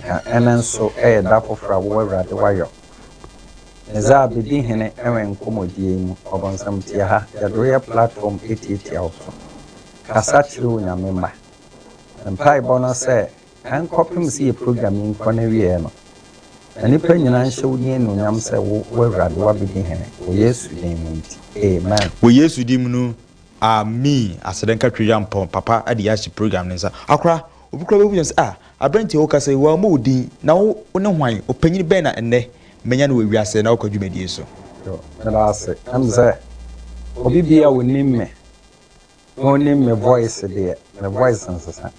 Na ɛno nso yɛ da foforɔ a wo Awurade wayɔ, ne dza abedi hene wɔ nkɔmmɔdie yi mu, ɔbonsam tie ha, yɛde wo yɛ platform etiatia wo so, kasa kyere wo Nyame mma. Me mpaebɔ no sɛ, ɛnkɔpem sɛ yɛ program yi nkɔ n'awieɛ no, na nnipa nyinaa nhyɛ wo din anuonyam sɛ wo, wo Awurade, woabedi hene, wɔ Yesu din mu nti, amen. Wɔ Yesu din mu no, aameen. Aseda nka Twi-Yampɔn papa de yɛahyɛ program no nsa. Akora. Obi koraa bɛbisa sɛ, Ah, aberanteɛ, wo kasa yi, wɔammɔ wo din, na wo, wone hwan? Ɔpanyin bɛn na ɛnnɛ manya no wɔ wiase na ɔkɔ dwumadie so? Yo, meda ase. Ɛm sɛ obi biaa ɔnim me, na ɔnim me voice deɛ, me voice nsesa.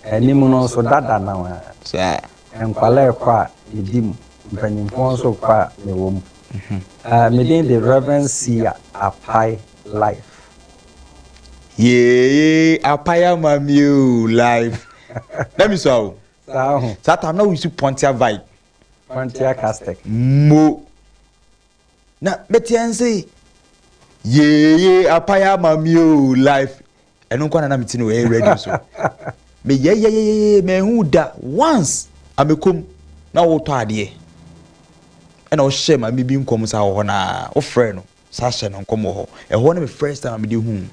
Anim no nso, dada no ara. Saa. Nkwadaa rekɔ a, medi mu. Mpanyimfoɔ nso rekɔ a, mewɔ mu. Eh, me din de Rev. Sia Apai Life. Yeeeee apae ama me oo life. Na mi sua o. Saa ho. Saa time na wo use Pontia vibe. Pontia Castek. Mo. Na meteɛ nse yeeeee apae ama me oo life. Ɛno nko na na mete no ɛyɛ radio so. Me yɛyɛyɛyɛyɛ manhu wo da once a mekom na wotɔ adeɛ. Ɛna wohyɛ maame bi nkɔm saa wɔ hɔ na wofrɛ no. Saa hyɛ no nkɔm wɔ hɔ. Ɛhɔ ne me first time a mede huu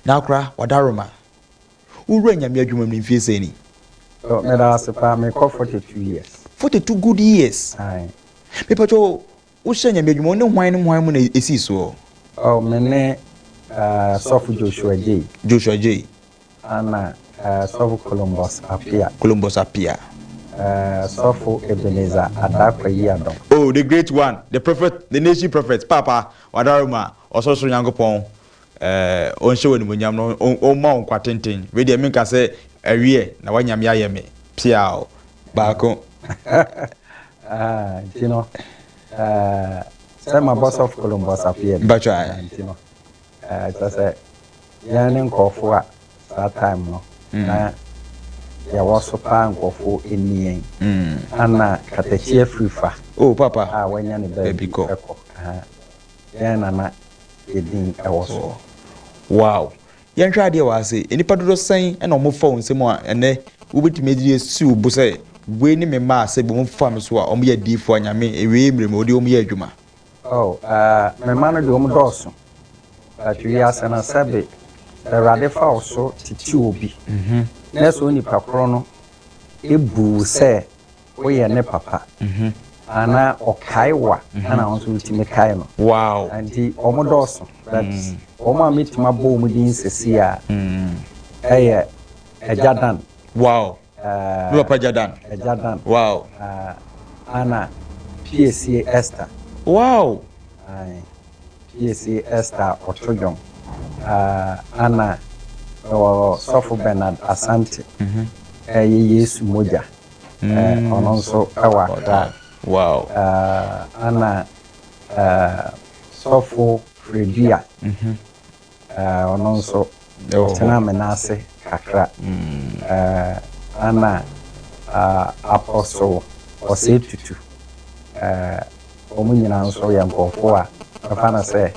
Nakora Wadaroma. Wo wura Nyame adwuma mu no mfie sɛn ni? Oh, meda wo ase paa, mekɔ forty two years. Forty two good years? Aye. Me pa kyɛw, wo hyɛ Nyame adwuma, wo ne hwan ne hwan mu na ɛsii soɔ? Oh, me ne uh, Sɔfo Joshua Jay. Joshua Jay. Ana Sɔfo Columbus Appiah. Columbus Appiah. Sɔfo Ebenezer Adakwa Yiadom. Oh, the great one, the prophet, the nation prophet, Paapa, wadaworo ma Ɔsorosoro Nyankopɔn eh, ɔnhyɛ wo animuonyam na ɔmma wo nkwa tenten. Wei deɛ menka sɛ awiɛ na w'anyame ayɛ me pseaw baako. Ah, nti no, eh, sɛ mabɔ Sɔfo Columbus Appiah bi, Mpakyɛw ae. nti no, Ɛɛ kyerɛ sɛ yɛn ne nkurɔfo a saa time no na yɛwɔ so paa nkurɔfo nni yɛn. Ana katakyi afiri fa Oh papa a wanya ne baabi baabi kɔ. kɔ. Aha. Yɛn na na yɛ din wɔ so. Wow! Yɛnhwɛ adeɛ wɔ ha sei. Nnipa dodoɔ sɛn na wɔfa wo nsam a ɛnnɛ wobɛtumi adi asi wo bo sɛ wei ne me mma a sɛ wɔfa me so a wɔyɛ adiyifoɔ a Nyame ɛwei mmerɛ mu ɔde wɔn yɛ adwuma? Oh, eh, me mma no de wɔdɔɔso, but wiase no, sɛbe Awurade fa wo so tete obi, na ɛsɛ onipa koro no bu wo sɛ woyɛ ne papa, anaa ɔkae wo a, ɛna wo nso wotumi kae no. Wow! Enti wɔdɔɔso, but wɔn a mɛtumi abɔ wɔn din seesei a, ɛyɛ Agya Dan. Wow! Me papa gya dan. Ɛgya dan. Wow. Ana piesie Esther. Wow. Ae. Piesie Esther ɔto dwom. Ana ɛwɔ sɔfo Bernard Asante. Ɛyɛ Yesu mogya. Ɔno nso ɛwɔ Accra. Wow. Ana sɔfo Fredua. Ɔno nso, ɔtenaa me nan ase kakra. Ɛnna Apostle Osei Tutu, wɔn nyinaa nso yɛ nkurɔfoɔ a mɛfa no sɛ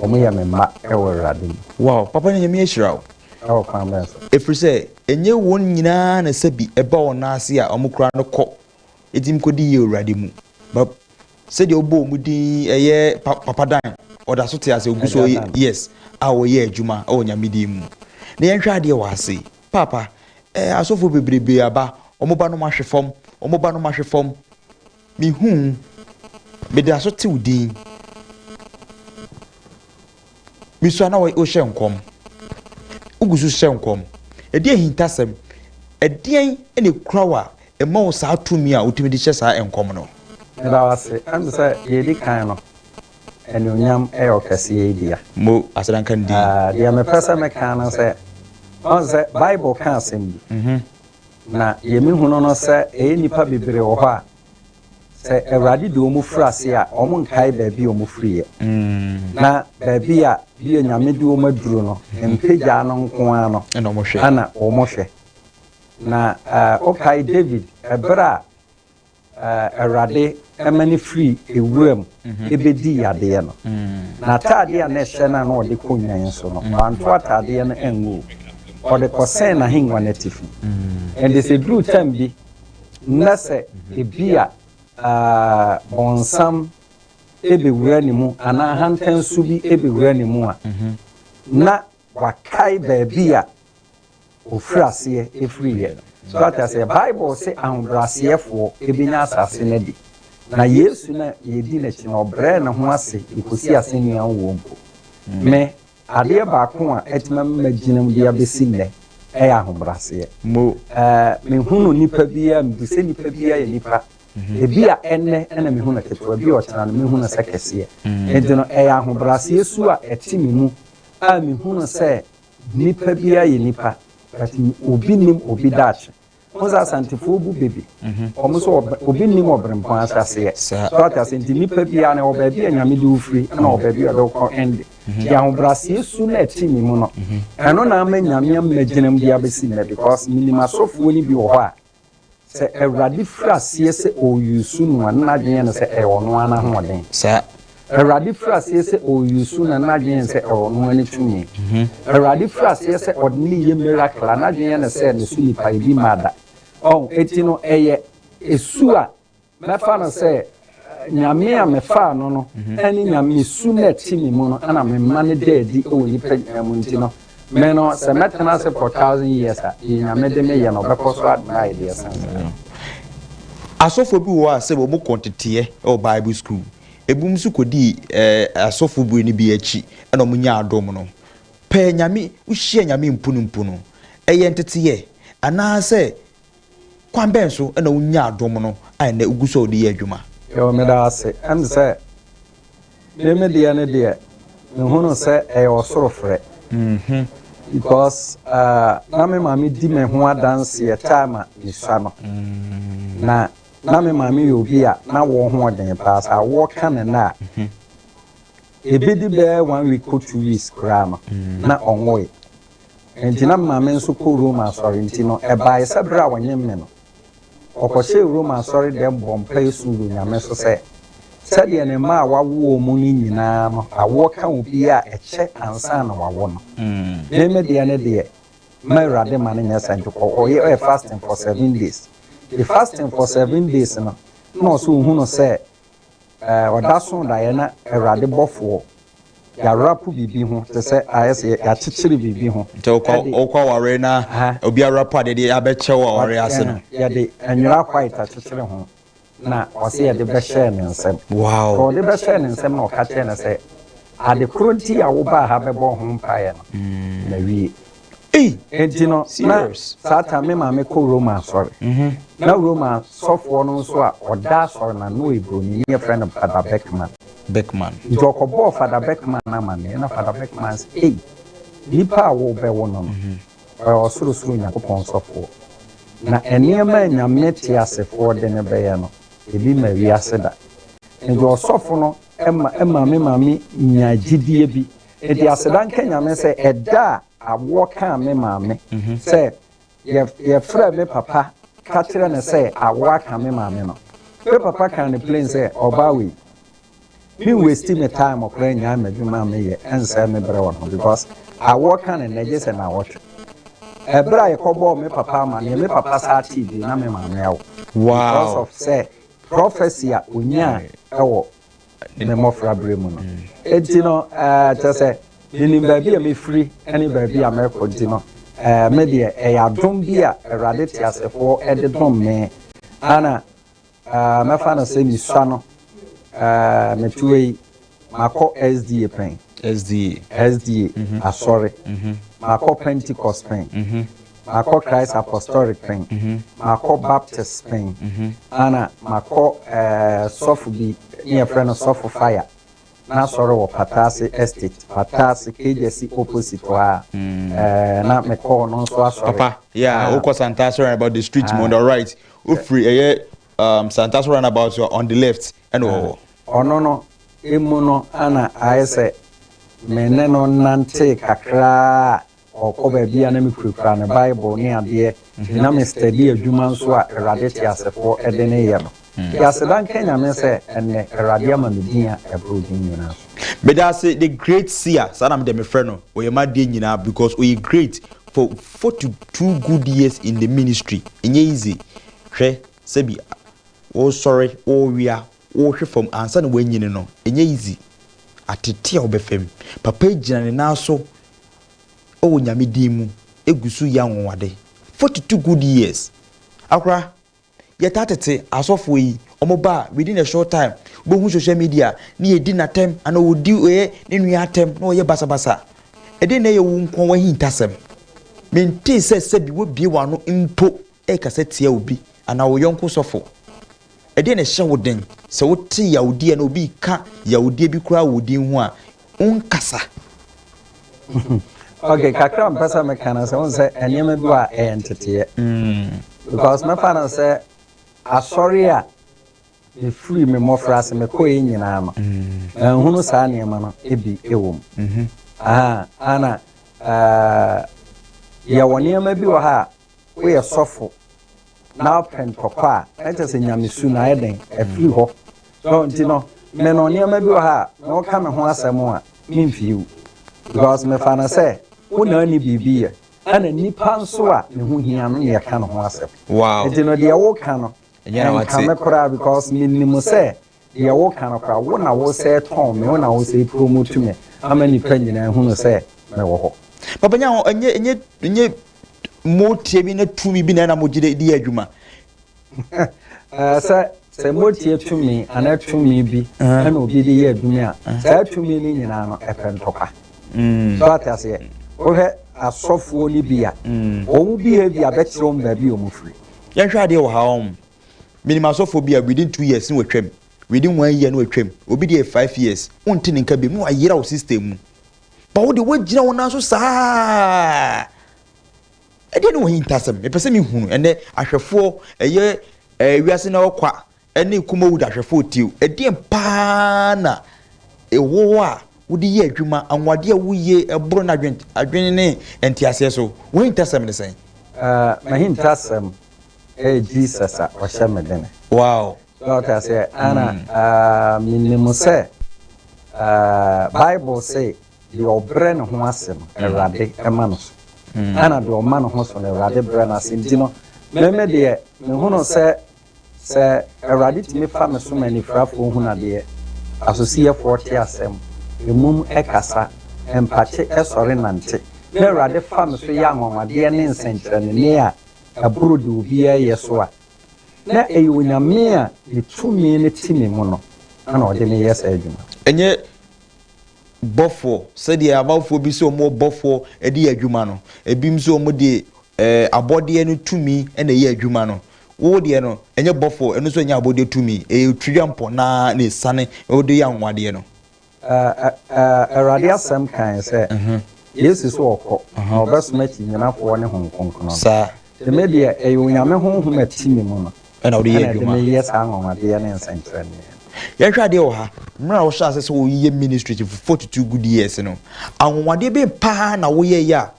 wɔyɛ me mma wɔ Awurade mu. Wow, papa no Nyame ahyira wo. Ɛwɔ kwan bɛn so? Ɛfiri sɛ, ɛnyɛ wɔn nyinaa na sɛbi ɛba wɔn nan ase a wɔkura no kɔ, ɛtumi kɔdi yie wɔ Awurade mu. But Sɛdeɛ wobɔ wɔn din yi ɛyɛ pa Papa Dan ɔda so te ase ogu so yes a ɔyɛ adwuma wɔ Nyame din mu. Na yɛnhwɛ adeɛ wɔ ase paapa ɛɛ asɔfoɔ bebrebe aba wɔn ba nom ahwe fam wɔn ba nom ahwe fam me hu meda so te wo din. Bi so a na wohyɛ nkɔm. Wogu so hyɛ nkɔm. Ɛdeɛn ahintasɛm, ɛdeɛn na ɛkura wo a ɛma wo saa tumi a wotumi de hyɛ saa nkɔm no? Meda wo ase. Ɛne me sɛ, deɛ ɛdi kan no, anuonyam yɛ ɔkɛseɛ yi dea. Mo aseda nka ne din. Deɛ mepɛ sɛ meka ne sɛ, ɔhu sɛ Bible ka asɛm bi, na deɛ mehunu no sɛ ɛyɛ nnipa bebree wɔ hɔ a, Sɛ Awurade de wɔn firi ase a, wɔnkae baabi a wɔfiriiɛ, na baabi a bi a Nyame de wɔn aduru no, mpagyaa no nko ara no na wɔhwɛ. Na wokae David, ɛberɛ a Awurade ma no firii ewura mu bɛdii adeɛ no, n'ataadeɛ a na ɛhyɛ no a na ɔde kɔ nnwan so no, wanto ataadeɛ no angu o, ɔde kɔsɛn n'ahengua no atifi. Ɛnde sɛ ɛduru tam bi na sɛ ebia Bɔnsam bɛwura ne mu anaa ahantan su bi bɛwura ne mu a, na wakae baabi a ɔfiri aseɛ firiiɛ. So wate aseɛ? Bible se ahobrɛaseɛfoɔ bɛnya asase no adi. Na Yesu no a yɛdi n'akyi no, ɔbrɛɛ ne ho ase de kɔsii asɛnnua ho wɔ mpo. Me. Adeɛ baako a atuma me magyina mu de abɛsi nnɛ yɛ ahobraseɛ. Mo. Ɛɛ, menhunu nnipa biara, mebu sɛ nnipa biara yɛ nnipa. Ebi a ɛnnɛ na mehu no ketewa, ebi a ɔkyena no mehu no sɛ kɛseɛ. Enti no, ɛyɛ ahobraseɛ su a ɛte me mu a mehunu sɛ nnipa biara yɛ nnipa, but obi nnim obi daakye. Wohu sɛ Asantefoɔ bu bebe. Wɔn nso obi nnim Ɔberempɔn ase aseɛ. So ate aseɛ? Nti nnipa biara no, ɛwɔ baabi a Nyame de wo firi, ɛna ɛwɔ baabi a Ɔde wo kɔ ɛnde. Nti ahobrɛaseɛ su no a ɛte me mu no, ɛno na ama Nyame ammɛgyina mu de abɛsi nnɛ because menim asɔfoɔ no bi wɔ hɔ a, sɛ Awurade firi aseɛ sɛ ɔre use no a, na n'adwene yɛ no sɛ ɛyɛ ɔno ara n'ahoɔden. Saa. Awurade firi aseɛ sɛ ɔreuse na n'adwene yɛ no sɛ ɛwɔ no ne tumi. Awurade firi aseɛ sɛ ɔde no yɛ miracle a n'adwene yɛ no sɛ ne so nipa yɛ bi mmaa da. Ɔho, eti no ɛyɛ esu a mɛfa no sɛ Nyame a mefaa no no ɛne Nyame su no a ɛte me mu no ɛna me ma no da adi wɔ nnipa nyinaa mu nti no me no sɛ mɛtena ase for thousand years a deɛ Nyame de me yɛ no ɔbɛkɔ so ade no ayɛ deɛ ɛsen saa. Asɔfoɔ bi wɔ hɔ a sɛ wɔn kɔ nteteɛ wɔ bible school. Ebinom nso kɔdii asɔfo bere no bi akyi na wɔnyaa dom no. Pɛ Nyame, wohyia Nyame mpunimpu no, ɛyɛ nteteyɛ anaasɛ kwan bɛn so na wonyaa dom no a ɛnnɛ wogu so a wɔde yɛ adwuma? Yoo meda ase. Ɛm sɛ me me deɛ no deɛ mehunu sɛ ɛyɛ ɔsoro frɛ because na me maame di me ho adanseɛ time a mesua no na Ná me maame yɛ obi a na awɔ ho wɔ den paa. Sɛ awɔ ka no nnɛ a, ebedi bɛyɛ one week kɔ two weeks koraa no, na ɔnwoe. Enti na me maame nso kɔ Roma asɔre, enti no, ɛbae sɛ bere a wɔnyem me no, ɔkɔhyɛɛ Roma asɔredɛm bɔɔ mpae suu Onyame so sɛ, sɛdeɛ ne mma a wawo wɔn no nyinaa no awɔ ka obi a ɛkyɛ ansa na wawo no, me me deɛ no deɛ, Ma Awurade ma no nyɛ sɛ nti kɔ kɔ yɛ fasting for seven days the fasting for seven days no na ɔsɛ ohunu sɛ eh, ɔda so daeɛ na Awurade bɔfoɔ yɛarapo biribi ho te sɛ ayɛ sɛ yɛakyekyere biribi ho nti wokɔ aware na obi arapo adeɛ deɛ yɛabɛkyɛ wɔ aware ase no yɛde nwera white akyekyere ho na ɔse yɛde bɛhyɛɛ ne nsam. Sɛ wɔde bɛhyɛɛ ne nsam na ɔka kyerɛɛ no sɛ, Ade koro nti a wobaa ha bɛbɔɔ ho mpaeɛ no, mawie. Enti no, na saa tam me maame kɔ Roma asɔre. Na Roma sɔfoɔ no nso a ɔda asɔre no ano no yɛ Buroni, ne yɛfrɛ no Fada Beckman. Nti ɔkɔbɔɔ Fada Beckman amanneɛ, na Fada Beckman se, Ei, nipa a worebɛwo no no, Ɔyɛ ɔsorosoro Onyankopɔn sɔfoɔ. Na nneɛma a Nyame teasefoɔ de no bɛyɛ no, ebi mmaa wiase da. Enti ɔsɔfo no maa me maame nyaa gyidie bi. Enti aseda nka Nyame sɛ ɛda a awoɔ kaa me maame sɛ yɛfrɛɛ me papa ka kyerɛɛ no sɛ awoɔ aka me maame no, me papa kaa no plain sɛ, Ɔbaa wei, Me wasti me time ɔkora nyae madwuma a meyɛ ɛnsɛe me berɛ wɔ no ho because awɔ ka ne nɛ gye sɛ nawɔtwe. Ɛberɛ a yɛkɔbɔɔ me papa amaneɛ me papa saa tee bio na me maame awo because of sɛ prophecy a ɔnyaa ɛwɔ ne mmɔfra berɛ mu no ɛnti no ɛɛ kyɛ sɛ menim baabi a mefiri ɛne baabi a mɛkɔ nti no ɛɛ me deɛ ɛyɛ adom bi a awurade teasefoɔ ɛde dom me ana Ah mɛfa no sɛ misua no ah mɛtua yi makɔ SDA pɛn SDA SDA asɔre makɔ Pentecost pɛn makɔ Christ Apostolic pɛn makɔ Baptist pɛn ana makɔ eh sɔfo bi ne yɛfrɛ no sɔfo fire n'asɔre wɔ Pataase Estate Pataase Kejasi opposite hɔ a eh na mekɔɔ no nso asɔre Papa yeah ah. wokɔ Santa asɔre about the street mu ah. on the right Wofiri ɛyɛ um, Santa so runabout so on the left ɛna wɔ hɔ. Ɔno no emu no ana ayɛ sɛ me ne no nantee kakraa a ɔkɔ baabi a na mekurakura ne Bible ne adeɛ nti na me steady adwuma nso a Awurade teasefoɔ de ne yɛ no. Nti aseda nka Nyame sɛ ɛnnɛ Awurade ama me din a ɛboro din nyinaa so. Meda ase the great seer saa na me deɛ mefrɛ no ɔyɛ m'adeɛ nyinaa because ɔyɛ great For forty two good years in the ministry ɛnyɛ easy hwɛ sɛbi wosɔre wowea wohwe fam ansa na wanyini no ɛnyɛ easy atete a wobɛfam papa agyina ne nan so wɔ nyame din mu ɛgu so yɛ anwonwade forty two good years akora Yɛtaa tete asɔfoɔ yi, wɔn ba a within a short time wobɛhu social media ne yɛdi no atɛm anaa wɔdi ɔyɛ ne nua atɛm na wɔyɛ basabasa. Ɛdeɛn na ɛyɛ wo nkoa w'ahintasɛm? Mentee sɛ sɛbi woabue w'ano mpo rekasa tia obi anaa wo yɔnko sɔfo. Ɛdeɛn na ɛhyɛ wo den sɛ wote yawdeɛ anaa obi reka yawdeɛ bi koraa wɔ wo din ho a, wonkasa. Ok kakra mpɛ sɛ meka no sɛ wohu sɛ nneɛma bi wɔ a ɛyɛ nteteeɛ because mɛfa no sɛ asɔre a mefiri me mmɔfra ase mekɔɛ nyinaa no manhunu saa nneɛma no bi wɔ mu ana yɛwɔ nneɛma bi wɔ ha a woyɛ sɔfo na wopɛ ntɔkwa a na kyerɛ sɛ nyamesu no ayɛ dɛn afiri hɔ so nti no me no nneɛma bi wɔ ha a na woka me ho asɛm a memfiiw because mefa no sɛ wo na ani biribi yɛ ɛna nipa nso a ne ho hia no na yɛka ne ho asɛm nti no deɛ woka no ɛnka me koraa because menim sɛ Deɛ woka no koraa, wo na wosɛe tɔn me, wo na wosɛe promote me ama nnipa nyinaa hunu sɛ mewɔ hɔ. Papa Nyaho, ɛnyɛ ɛnyɛ ɛnyɛ motie bi ne tumi bi na ɛna mogye de di adwuma. Ɛɛ sɛ sɛ motie tumi anaa tumi bi ɛna obi de yɛ adwuma a, saa tumi no nyinaa no ɛpɛ ntɔkwa. So ate aseɛ? Wohwɛ asɔfoɔ no bi a, wɔn behavior bɛkyerɛ wɔn baabi a wɔfiri. Yɛnhwɛ adeɛ wɔ ha wɔn. Menim asɔfoɔ bi a within two years ne watwam, within one year ne watwam, obi deɛ five years, wonte ne nka biom ne wayera wo system mu. Ba wo de woagyina wo nan so saa. Ɛdeɛ ne wɔyi ntasɛm, mepɛ sɛ mehunu ɛnɛ ahwɛfoɔ ɛyɛ ɛɛ wiase na ɔkwa ɛne kumawu da ahwɛfoɔ tio. Ɛdeɛ paa na ɛwɔ hɔ a wode yɛ adwuma, anwadeɛ a woyie ɛboro na adwene ne nteaseɛ so. Wahintasɛm ne sɛn? Ɛɛ, mahintasɛm. Eeh Jesus a ɔhyɛ me den. Wow. So ɔte aseɛ ana menim sɛ Bible se deɛ ɔbrɛ ne ho ase no Awurade ma no so ana deɛ ɔma ne ho so no Awurade brɛ no ase nti no meme deɛ mehunu sɛ sɛ Awurade tumi fa me so ma anifirafoɔ hunu adeɛ asosiyɛfoɔ te asɛm emum ɛkasa mpakye ɛsɔre nante na Awurade fa me so yɛ anwanwadeɛ ne nsɛnkyerɛnne a boro deɛ obiara yɛ so a, na ɛyɛ Onyame a ne tumi no te me mu no na ɔde me yɛ saa adwuma. Ɛnyɛ bɔfoɔ, sɛdeɛ amanfoɔ bi sɛ wɔwɔ bɔfoɔ de yɛ adwuma no, ebinom nso wɔde abɔdeɛ no tumi na ɛyɛ adwuma no. Wo deɛ no, ɛnyɛ bɔfoɔ, ɛno nso ɛnyɛ abɔdeɛ tumi, ɛyɛ Otwiriampɔ no ara na ɛsiane de yɛ anwanwadeɛ no. Awurade Asɛm kae sɛ, Yesu so ɔkɔ, na ɔbɛsoma akyinnyinafoɔ ne Honhom Kronkron no. Nti me deɛ, ɛyɛ Onyame Honhom a ɛte me mu no na ɛde meyɛ saa anwanwadeɛ ne nsɛnkyerɛnneɛ no. Yɛnhwɛ adeɛ wɔ ha, mmerɛ a wohyɛɛ aseɛ sɛ woreyɛ ministry for forty two good years no, anwanwadeɛ bɛn paa na woyɛeɛ a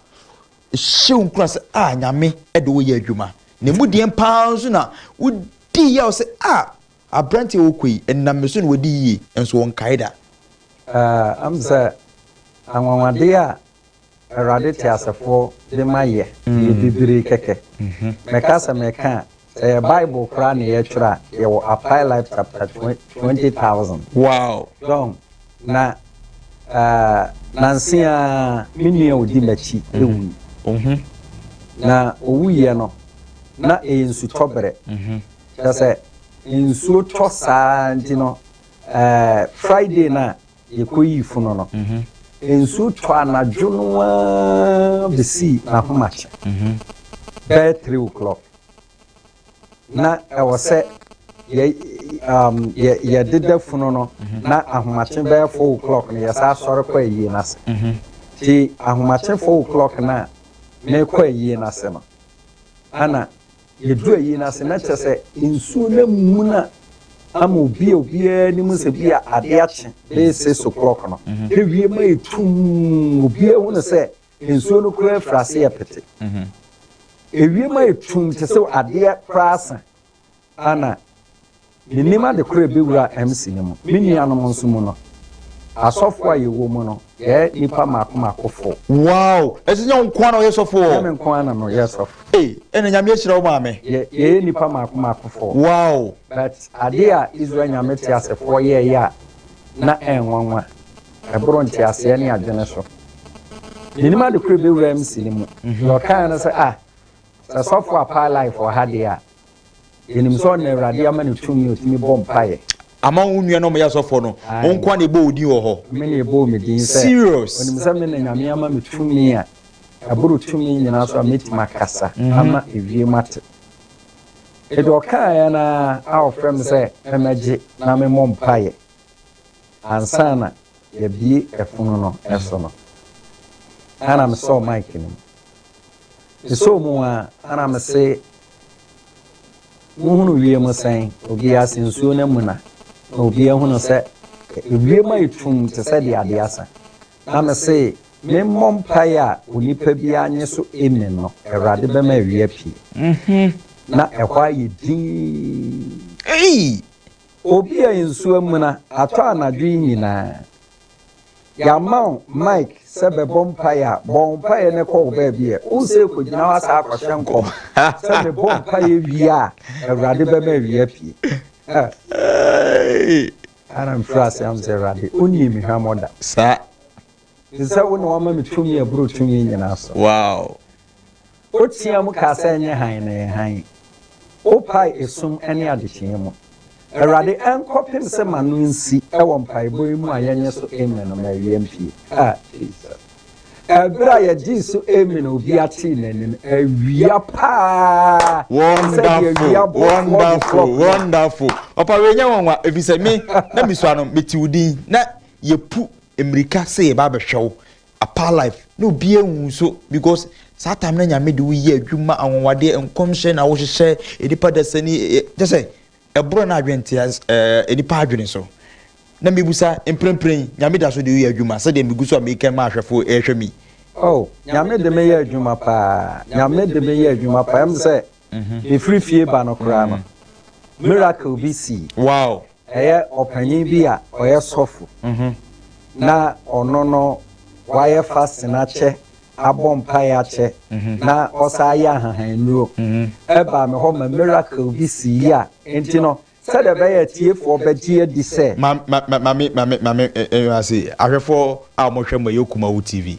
ɛhyɛ wo nkuran sɛ ah Nyame de wo yɛ adwuma? Na ɛmu deɛn paa nso na wodiiɛ a wo sɛ ah Aberanteɛ a ɔɔkɔ yi, ɛnam me so na wadi yie, nso wɔnkae da. Aah, m sɛ anwanwadeɛ a Awurade teasefoɔ de ma yɛ yɛ bibire kɛkɛ. Mɛka sɛ mɛka a, sɛ yɛ Bible koraa na yɛtwerɛ a, yɛwɔ Apply Life chapter twenty thousand. Wow! Dɔn, na aah, nanse ara me nua a ɔdi m'akyi wui. Na ɔwuiɛ no, na ɛyɛ nsutɔberɛ. Kyerɛ sɛ, nsuo tɔ saa nti no, ɛɛ Friday no a yɛkɔyii funu no, nsuo tɔ anadwo no ara bɛsii n'ahomakye bɛyɛ three o'clock. Na ɛwɔ sɛ yɛ um, yɛ yɛdeda funu no na ahomakye bɛyɛ four o'clock no yɛsan asɔre kɔ ayie no ase. Nti ahomakye four o'clock no a mekɔ ayie no ase no, ɛna Yɛduru ayi no ase na kyerɛ sɛ nsuo no amuna ama obi a obiara nim sɛ bi a adeɛ akye bɛyɛ six o'clock no na wiem ayɛ tum obiara hu no sɛ nsuo no koraa afiri ase yɛ pete ewiem ayɛ tum te sɛ adeɛ koraa asa ana Menim ade koro a ɛbɛwura MC no mu, me nuanom nso mu no. Asɔfoɔ a yɛwɔ mu no, yɛyɛ nnipa mmaako mmaakofoɔ. Wow! Ɛsɛ sɛ nyɛ wo nko ara na woyɛ sɔfo hɔ? Nyɛ me nko ara na meyɛ sɔfo. Ei, ɛnna Nyame ahyira wo maame. Yɛ, yɛyɛ nnipa mmaako mmaakofoɔ. Wow! But adeɛ a Israel Nyame teasefoɔ yɛeɛ a na ɛnwanwa, ɛboro nteaseɛ ne adwene so. Menim ade koro a ɛbɛwura MC no mu. Deɛ ɔkaeɛ ne sɛ, Ah, sɛ sɔfo a paa life wɔ ha deɛ a, Yɛnim sɛ ɔna Awurade ama no tumi a ɔtumi bɔ mpaeɛ. Ama wo nua na ɔmɛyɛ asɔfoɔ no, wo nko ara na ɛbɔ wo din wɔ hɔ. Me na ɛbɔ me din sɛ. Serious. Ɔnim sɛ me na Nyame ama me tumi a ɛboro tumi nyinaa so a mɛtumi akasa ama ewiem ate. Enti ɔkaaeɛ no ara a ɔfrɛ me sɛ mɛmɛgye na memmɔ mpaeɛ ansa na yɛabue ɛpono no so no, ɛna mesɔɔ mic no mu. Mesɔɔ mu ara na mese. Wohunu wiem sɛn? Obi ase nsuo no amuna, na obi ahunu sɛ ewiem ayɛ tumm te sɛ deɛ adeɛ asa. Na mese, memmɔ mpaeɛ a onipa biara nnye so amen no, Awurade bɛma awia apue. Na ɛhɔ ayɛ dinn. Ei! Obi a nsuo amuna atɔ anadwo yi nyinaa, Yɛama wo mic sɛ bɛbɔ mpaeɛ a, bɔ wo mpaeɛ no kɔ wo baabi ɛ. Wo sɛ kɔgyina hɔ asaa akɔhyɛ nkɔm sɛ mebɔ mpaeɛ wie a Awurade bɛma awie apue. Hey! Ɛhɔ na mefiri aseɛ ahu sɛ Awurade ɔnnie me hwammɔ da. Saa. Ɛfiri sɛ wo na woama me tumi aboro tumi nyinaa so. Wow! Woteaam kaa sɛ, Ɛnyɛ hann na ɛyɛ hann. Wopae esum ne adekyeeɛ mu. Awurade, ɛnkɔpem sɛ m'ano nsi wɔ mpaebɔ yi mu a yɛnyɛ so Amen no, mawie mpie. Ah, Jesus. Ɛberɛ a yɛgyee so Amen a obia tee n'anim, awia paa te sɛ deɛ awia bɔ 4 o'clock Wonderful, no. wonderful. Ɔpa wei nyɛ nwanwa ɛfiri sɛ me na mesua no mete wo din na yɛpu mmirika sɛ yɛba abɛhwɛ wo Apart life na obiaa nhu nso because saa time na nyame de wo yɛ adwuma anwanwadeɛ nkɔmhyɛ na wo hyehyɛ enipa dasa ni kyɛ sɛ ɛborɔ na adwene te enipa adwene so na mebusa mprempren nyame da so de wo yɛ adwuma sɛdeɛ megu so a mekɛn ma ahwɛfo ɛhwɛ mi. Oh nyame de me yɛ adwuma paa nyame de me yɛ adwuma paa ɛm sɛ Mefiri fie ba no koraa no, miracle bi sii. Ɛyɛ ɔpanyin bi a ɔyɛ sɔfo, na ɔno no wayɛ fasting akyɛ, abɔ mpae akyɛ, na ɔsan ayɛ ahahan nnuro. Ɛbaa me hɔ ma miracle bi sii a enti no, Sɛdeɛ ɛbɛyɛ a atiefoɔ bɛgye adi sɛ. Ma ma ma ma me ma me ma me nhwɛ ase ahwɛfoɔ a wɔhwɛ mo ɛyɛ Kumawu TV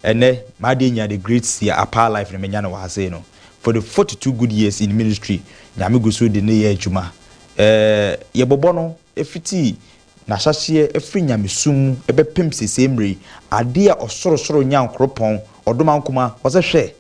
ɛnɛ m'adeɛ nya the great Sia Apaa life na menya no wɔ ha sei no for the forty two good years in ministry Nyame gu so de ne yɛ adwuma ɛɛ yɛbɔbɔ no ɛfiti n'ahyɛhyeɛ ɛfiri Nyamesum mu ɛbɛpem sesei mmerɛ yi adeɛ a Ɔsorosoro Nyankoropɔn ɔdom ankoma ɔsɛ hwɛ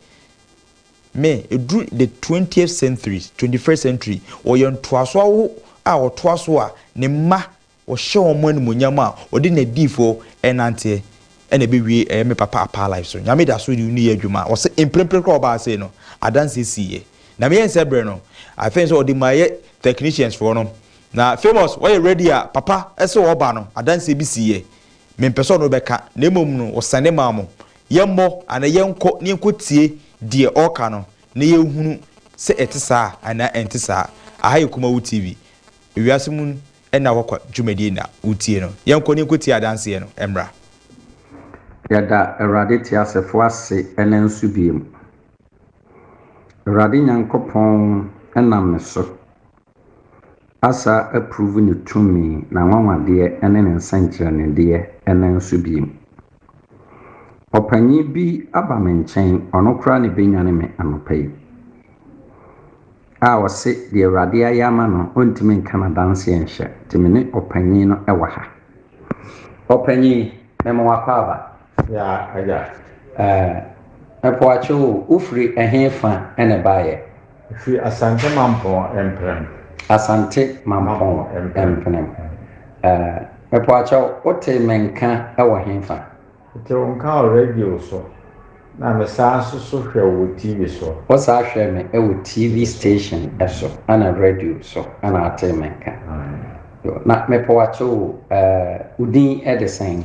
Mmɛ ɛduru the twentieth century, twenty first century, wɔyɛ ntoasoɔ awoho a wɔtoa so a ne mma wɔhyɛ wɔn animuonyam a wɔde n'adiyifoɔ renanteɛ ɛna ɛbɛwie ɛyɛ me papa Apaa life so. Nyame da so reyɛ adwuma. Ɔse mprempren koraa a ɔbaa sei no, adanseɛ siiɛ. Na meyɛ nsɛ berɛ no, I think sɛ ɔde maa yɛ technicians foɔ no. Na Famous, woayɛ ready a, papa se ɔreba no, adanseɛ bi siiɛ. Mempɛ sɛ ɔno bɛka, na mmom no ɔsane maa mo. Yɛmmɔ, anaa yɛnkɔ na yɛnkɔtie deɛ ɔreka no na yɛnhunu sɛ ɛte saa anaa ɛnte saa. Aha yɛ Kumawu TV, Ewiase mu Nna Hɔ Kwa dwumadie na wotie no. Yɛnkɔ na yɛnkɔtie adanseɛ no mmra. Yɛda Awurade teasefoɔ ase ɛnnɛ nso bio. Awurade Nyankopɔn nam me so Asa approve ne tumi, n'anwanwadeɛ ne ne nsɛnkyerɛnnedeɛ no nso biom. Ɔpanyin bi aba me nkyɛn, ɔno koraa na ɛbɛnyane me anɔpa yi, a ɔse deɛ Awurade ayɛ ama no, ɔntumi nka no adanseɛ nhyɛ, nti me ne ɔpanyin no wɔ ha. Ɔpanyin, mema wo akwaaba. Yaa agya ɛɛ po akye wo. Wo firi ɛhe fa na ɛbaeɛ? Firi Asante Mampɔn Mpenem. Asante Mampɔn Mpenem. Ɛɛ po akyɛ wo, wo tee me nka wɔ he fa? Me tee wo nka wɔ radio so, na me saa nso so hwɛ wo wɔ TV so. Wo saa hwɛ me wɔ TV station so ɛna radio so ɛna atee me nka. Na me po akyɛ wo, ɛɛ wo din de sɛn?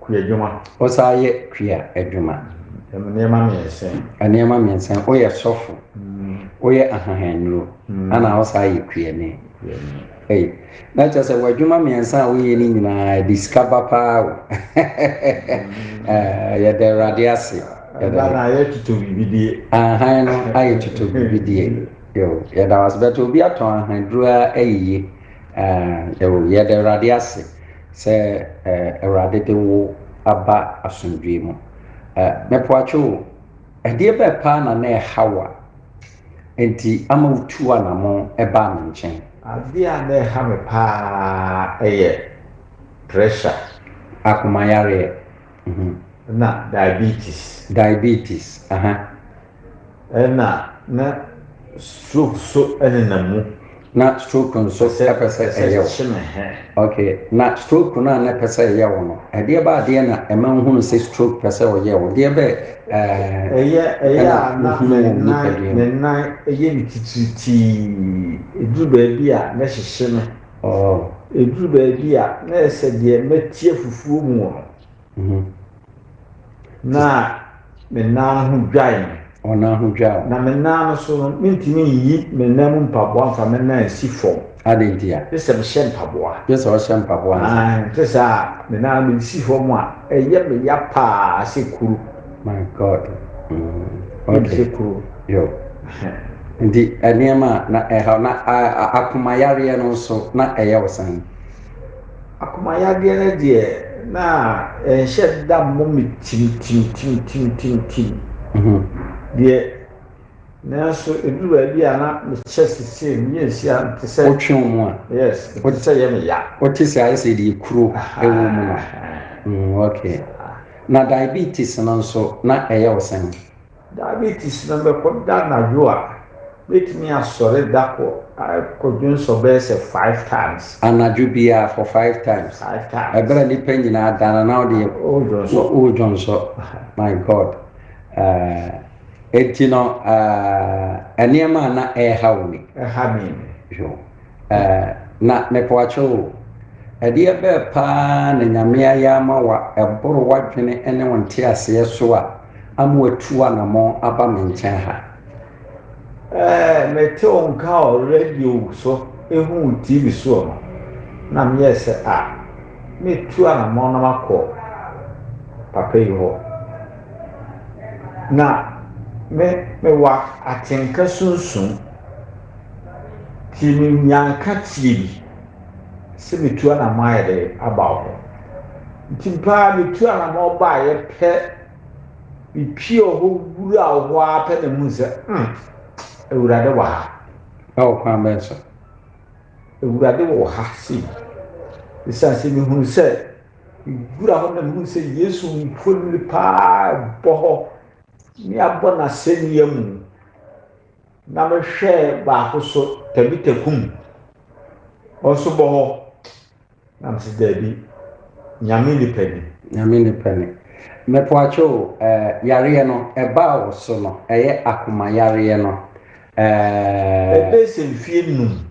Kua adwuma. Wosan yɛ kua adwuma. Nneɛma mmiɛnsa yi. Nneɛma mmiɛnsa yi, woyɛ sɔfo, woyɛ ahohannuro, ɛnna wosan yɛ kuani. Ei, na kyerɛ sɛ w'adwuma mmiɛnsa a woyɛ no nyinaa, ɛde sika ba paa o. Yɛda Awurade ase. Ɛda no ayɛ tuto bibidie. Ahan no ayɛ tuto bibidie. Yɛda wo ase. Bɛtɛ obi atɔn ahaduro a ɛyeye. Yɛda Awurade ase. Sɛ Awurade de wo aba asomdwoe mu. Mepoakye o, ɛdeɛ bɛɛ paa na na ɛha wo a enti ama wo tuu anamɔn baa me nkyɛn? Adeɛ a na ɛha me paa yɛ pressure. Akomayareɛ. Ɛna diabetes. Diabetes, aha. Ɛna na stroke so nenam mu. Na stroke nso pɛ sɛ ɛyɛ wo. Ok, na stroke no a na ɛpɛ sɛ ɛyɛ wo no, ɛdeɛ bɛ adeɛ na ɛma wohunu sɛ stroke pɛ sɛ ɔyɛ wo? Deɛ bɛ ɛɛ ɛna wohunu wɔ wo nipadua mu? Ne nan yɛ me titiritii. Ɛduru baabi a, na ɛhyehye me. Ɛduru baabi a, na ayɛ sɛ deɛ mati afufuo mu no. Mhm. Na me nan no ho dwae me. Wo nan ho dwae wo. Na me nan no so no, mentumi nyi me nan mu mpaboa mfa me nan nsi fam. Adɛn nti a? Gye sɛ mehyɛ mpaboa. Gye sɛ wohyɛ mpaboa ansa. Ae, ɛte sɛ a me nan no mede si fam a, ɛyɛ me ya paa sɛ kuru. My God. Mm, Ɛyɛ me okay. sɛ kuru. Yo. Ɛhɛ. Nti nneɛma a na ɛhaw na a, a, akomayareɛ no nso na ɛyɛ wo sɛn? Akomayadeɛ no deɛ na ɛnhyɛ da mmɔ me tintintintintintin deɛ nanso ɛduru baabi a na mekyɛ sesei meyɛ nsia te sɛ wotwe wo mu a yes te sɛ yɛ me ya wote sɛ ayɛ sɛ deɛ kuro ɛwɔ mu a mm, okay na diabetes no nso na ɛyɛ wo sɛn Diabetes no bɛkɔ da anadwo a, mɛtumi asɔre da kɔ akɔ dwonsɔ bɛyɛ sɛ five times. Anadwo biara for five times? Five times. Ɛberɛ a nnipa nyinaa ada no na wo deɛ wo dwonsɔ. My God. Ɛnti no nneɛma a na ɛreha wo ni. Ɛha me ni. Eh, na mepoakyɛw o, ɛdeɛ bɛɛ paa na Nyame ayɛ ama wo a ɛboro w'adwene ne wo nteaseɛ so a ama watu anamɔn aba me nkyɛn ha? Eh, mete wo nka wɔ radio so ehu wo TV soɔ no, na meyɛɛ sɛ a, mɛtu anamɔn na makɔ papa yi hɔ. Na me, mewɔ atenka sunsum. Nti menya nkateɛ bi sɛ metu anamɔ ayɛ dɛ aba hɔ. Nti mpo a metu anamɔ baeɛ pɛ, mepie wɔ hɔ wura wɔ hɔ ara pɛ na mu sɛ, hmm, Awurade wɔ ha. Ɛwɔ kwan bɛn so? Awurade wɔ ha sei. Ɛsiane sɛ mehunu sɛ mewura hɔ na mehunu sɛ Yesu mfonini paa bɔ hɔ ne abɔ n'asɛnnua mu. Na mehwɛɛ baako so, Tabita kum. Ɔnso bɔ hɔ. Na mese daabi, Nyame nni pɛne. Nyame nni pɛne. Mepoakye o, eh, yareɛ no, ɛbaa wo so no, ɛyɛ akomayareɛ no, eh. Ɛbɛɛ sɛ mfie num.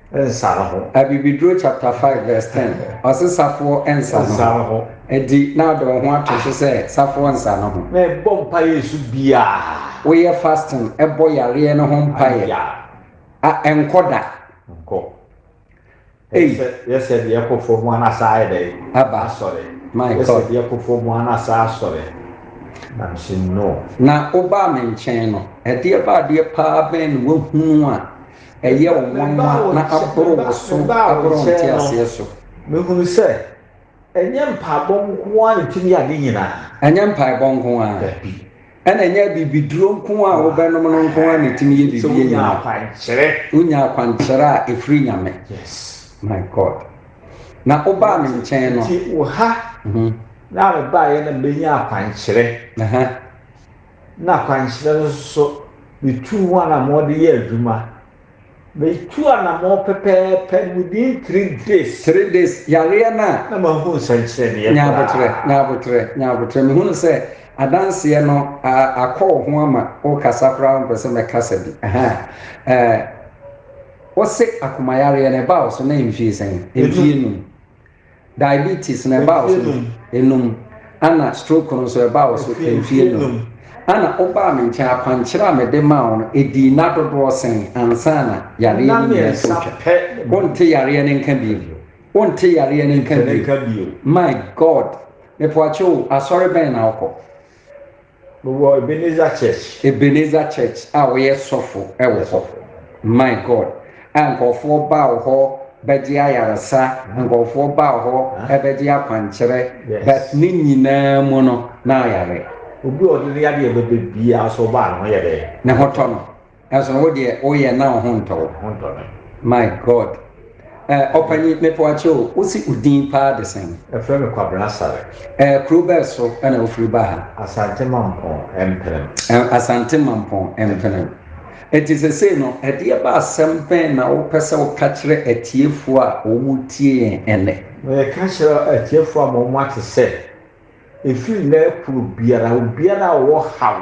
nsa no ho. Abibiduro chapter five verse ten, ɔse safoɔ nsa no ho. Enti na ɔde wo ho ato so sɛ safoɔ nsa no ho. Na ɛbɔ mpaeɛ nso biara. Woyɛ fasting bɔ yareɛ no ho mpaeɛ a, ɛnkɔ da. Nkɔ. Ei. Sɛ yɛsɛ deɛ ɛkɔ fam a na saa ayɛ dɛn? Aba. Asɔre. My God. Yɛsɛ deɛ ɛkɔ fam a na saa asɔre. Na mese no. Na wobaa me nkyɛn no, ɛdeɛ baadeɛ paa bɛn na woahunu a. ɛyɛ wo nwanwa na aboro wo so aboro wo nteaseɛ so. Mehunu sɛ, ɛnyɛ mpaebɔ nko ara na ɛtumi yɛ ade nyinaa. Ɛnyɛ mpaebɔ nko ara. Dabi. Ɛna ɛnyɛ abibiduro nko ara a wobɛnom no nko ara na ɛtumi yɛ biribi nyinaa. Sɛ wonya akwankyerɛ. Wonya akwankyerɛ a ɛfiri Nyame. Yes. My God. Na wobaa me nkyɛn no. Nti wo ha. Na mebaeɛ na mebɛnya akwankyerɛ. na akwankyerɛ no so betuu ho anammɔn de yɛɛ adwuma. Metuu anammɔn pɛpɛɛpɛ, no within three days. Three days, yareɛ no a. Na manhu nsɛnkyerɛnneɛ koraa. Nyaaboterɛ, nyaaboterɛ, nyaaboterɛ, mehunu sɛ adanseɛ no a, akɔ wo ho ama wokasa koraa wompɛ sɛ mɛkasa bi. Ahaa, ɛɛ, wose akomayareɛ no ɛbaa wo so na mfie sɛn? Mfie num. Diabetes no ɛba wo so mfe enum ɛna stroke no nso ɛba wo so mfe enum ɛna wobaa me nkyɛn akwankyerɛ a mede maa wo no ɛdii nna dodoɔ sɛn ansa na yareɛ no nyinaa atwa twa? Wonte yareɛ no nka bio, wonte yareɛ no nka bio, my God, mepoakye o, asɔre bɛn na wokɔ? Mewɔ Ebenezer Church. Ebenezer Church a woyɛ sɔfo wɔ hɔ. My God, a nkurɔfoɔ ba wo hɔ bɛgye ayaresa, nkurɔfoɔ ba wo hɔ bɛgye akwankyerɛ, but ne nyinaa mu no na ayare. Obi a ɔde ne yadeɛ bɛbɛ biara nso ɔba a ne ho yɛ dɛn? Ne ho tɔ no. Nanso no wo deɛ woyɛ na wo ho ntɔ wo. Ho ntɔ me. My God. Eh, ɔpanyin mepɛ akyɛ o, wo se wo din paa de sɛn? Ɛfrɛ me Kwabena Sare. Eh, kuro bɛɛ so na wo firi ba ha? Asante Mampɔn, Mpenem. Eh, Asante Mampɔn, Mpenem. Enti sesei no, ɛdeɛ ba asɛm bɛn na wo pɛ sɛ wo ka kyerɛ atiefoɔ a wɔn retie yɛn ɛnnɛ? Me ka kyerɛ atiefoɔ ama wɔn ate sɛ, ɛfiri nnɛ ɛkoro biara, obiara a ɔwɔ haw,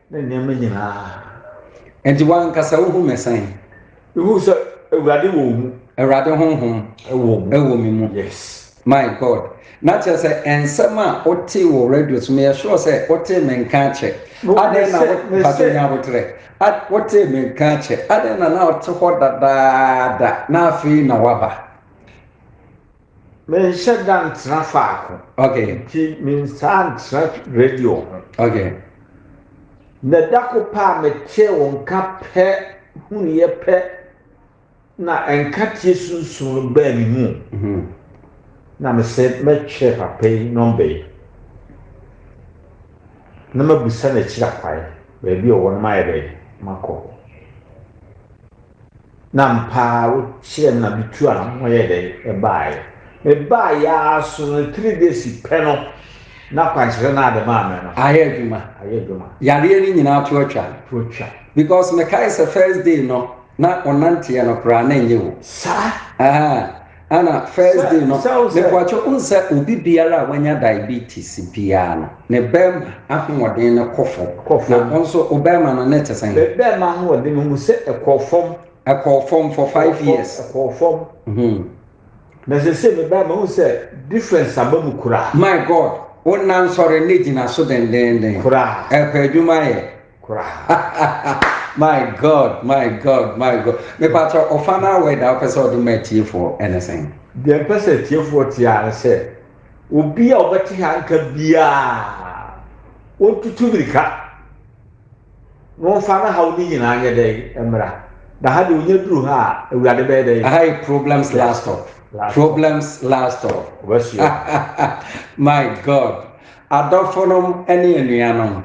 ne nneɛma nyinaa. Enti wo ankasa wuhu me sɛn? Mihu sɛ Awurade wɔ wo mu. Awurade honhom wɔ me mu. Yes. My God. Na kyerɛ sɛ nsɛm a wotee wɔ radio so, meyɛ sure sɛ wotee me nka akyɛ. Adɛn na wopatɔ nya aboterɛ? Wotee me nka akyɛ. Adɛn na na wote hɔ dadaada na afei na woaba? Menhyɛ da ntena faako. Okay. Nti mensaa ntra radio ho. Okay. Na da ko pɛ a metee wo nka pɛ hunuiɛ pɛ na nkateɛ sunsum no baa me mu. Mm -hmm. Na mesɛ mɛtwerɛ papa yi nɔmba yi na mabusa no akyiri akwae baabi a ɔwɔ no mayɛ dɛ makɔ hɔ. Na ampa ara wokyerɛɛ me na mituu a me ho yɛ dɛ bae. Mebae ara so no three days pɛ no na akwankyerɛ no ade maa me no. Ayɛ adwuma. Ayɛ adwuma. Yareɛ no nyinaa to atwa. To atwa. Because mekae sɛ first day no na ɔnanteɛ no koraa na ɛnyɛ o. Saa. Ahaa. Ana first day no mebuakye wohu sɛ obi biara a wanya diabetes biara no ne bɛɛma ahoɔden no kɔ fam na wo nso wo bɛɛma no ne te sɛn? Me bɛɛma ahoɔden no hu sɛ ɛkɔɔ fam. Ɛkɔɔ fam for five years. Ɛkɔɔ fam. Hmm. Na sese me bɛɛma hu sɛ difference aba mu koraa. My God, wo nna nsɔre ne gyina so dendenden. Koraa. Ɛkɔ adwuma yɛ. koraa my god my god my god mepatɔ ɔfa no awɔ ɛda wopɛ sɛ ɔde ma atiefoɔ ɛne sɛn deɛ mpɛ sɛ atiefoɔ tiaa ne sɛ obi a ɔbɛte ha nka biaa ɔntutu mirika na ɔmfa no haw no nyinaa nyɛ dɛn mmra na ha deɛ ɔnya duru ha a awurade bɛyɛ dɛn aha yɛ problems last stop problems last stop my god adɔfonom ne anuanom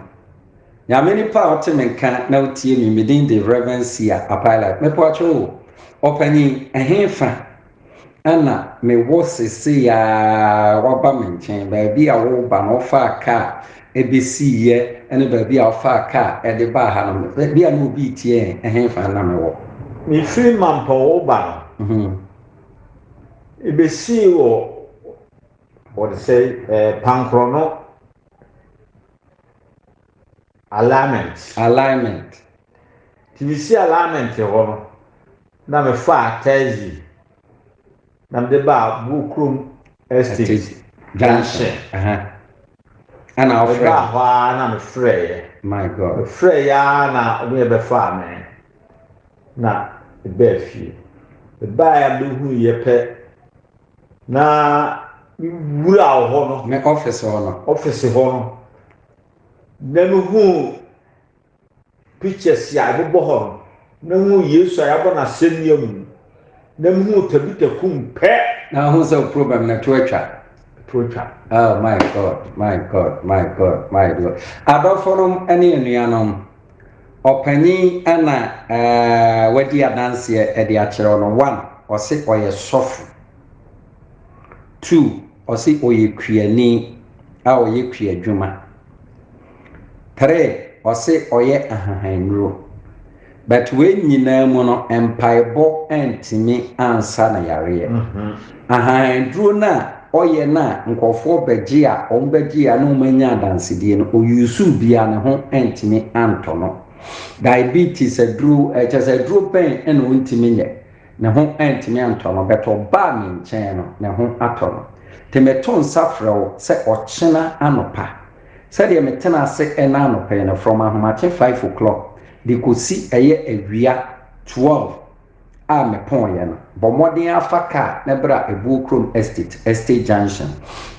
Nyame nipa a ɔte me nka na ɔtie me, me din de Rev. Sia Apailad. Mepakyɛ o, ɔpanyin, ɛhe fa na me wɔ sesei a woaba me nkyɛn? Baabi a woreba no wofaa ka a ɛbɛsii yɛ ne baabi a wofaa ka a ɛde baa ha no, baabi a na obi retie yɛn, ɛhe fa na me wɔ? Me firi Mampɔn woba no, me bɛsii wɔ, wɔde sɛ, Pankorɔno. Alignment. Alignment. Nti mesi alignment hɔ no, na mefaa taxi na mede baa Buokrom Estate junction. Ɛna ɔfrɛ. Mebaa hɔ ara na mefrɛeɛ. My God. Mefrɛeɛ ara na ɔmo yɛ bɛfaa me na mebaa fie. Mebaeɛ a mehuiɛ pɛ. Na mewura wɔ hɔ no. Me ɔfese hɔ no. Ɔfese hɔ no. Na mehuu pictures a ɛbobɔ hɔ no. Na mehuu Yesu a yɛabɔ no asɛnnua mu. Na mehuu Tabita kum pɛ. Na ahun sɛ wo problem no ɛto atwa. Ɛto atwa. Oh my God, my God, my God, my God. Adɔfonom ne anuanom. Ɔpanyin a na wadi adanseɛ de akyerɛ wo no, one, ɔse ɔyɛ sɔfo. Two, ɔse ɔyɛ kuani a ɔyɛ kuadwuma. Three, ɔse ɔyɛ ahahannnuro. But wei nyinaa mu no, mpaebɔ antumi ansa no yareɛ. Ahanduro no a ɔyɛ no a nkorɔfoɔ bɛgye a wɔn bɛgye a na wɔn anya adansedie no ɔyuusuu bi a ne ho antumi antɔ no. Diabetes aduro ɛkyɛ sɛ aduro bɛn na ɔntumi nyɛ ne ho antumi antɔ no but ɔbaa me nkyɛn no ne ho atɔ no. Nti meto nsa frɛ wo sɛ ɔkyena anɔpa sɛdeɛ metena ase ɛna anɔpa yi no from ahomakye five o'clock de kɔsi ɛyɛ awia twelve a mepɔeɛ no, bɔ mmɔden ara fa kaa na bra Ɛbuo Kurom Estate, Estate Junction.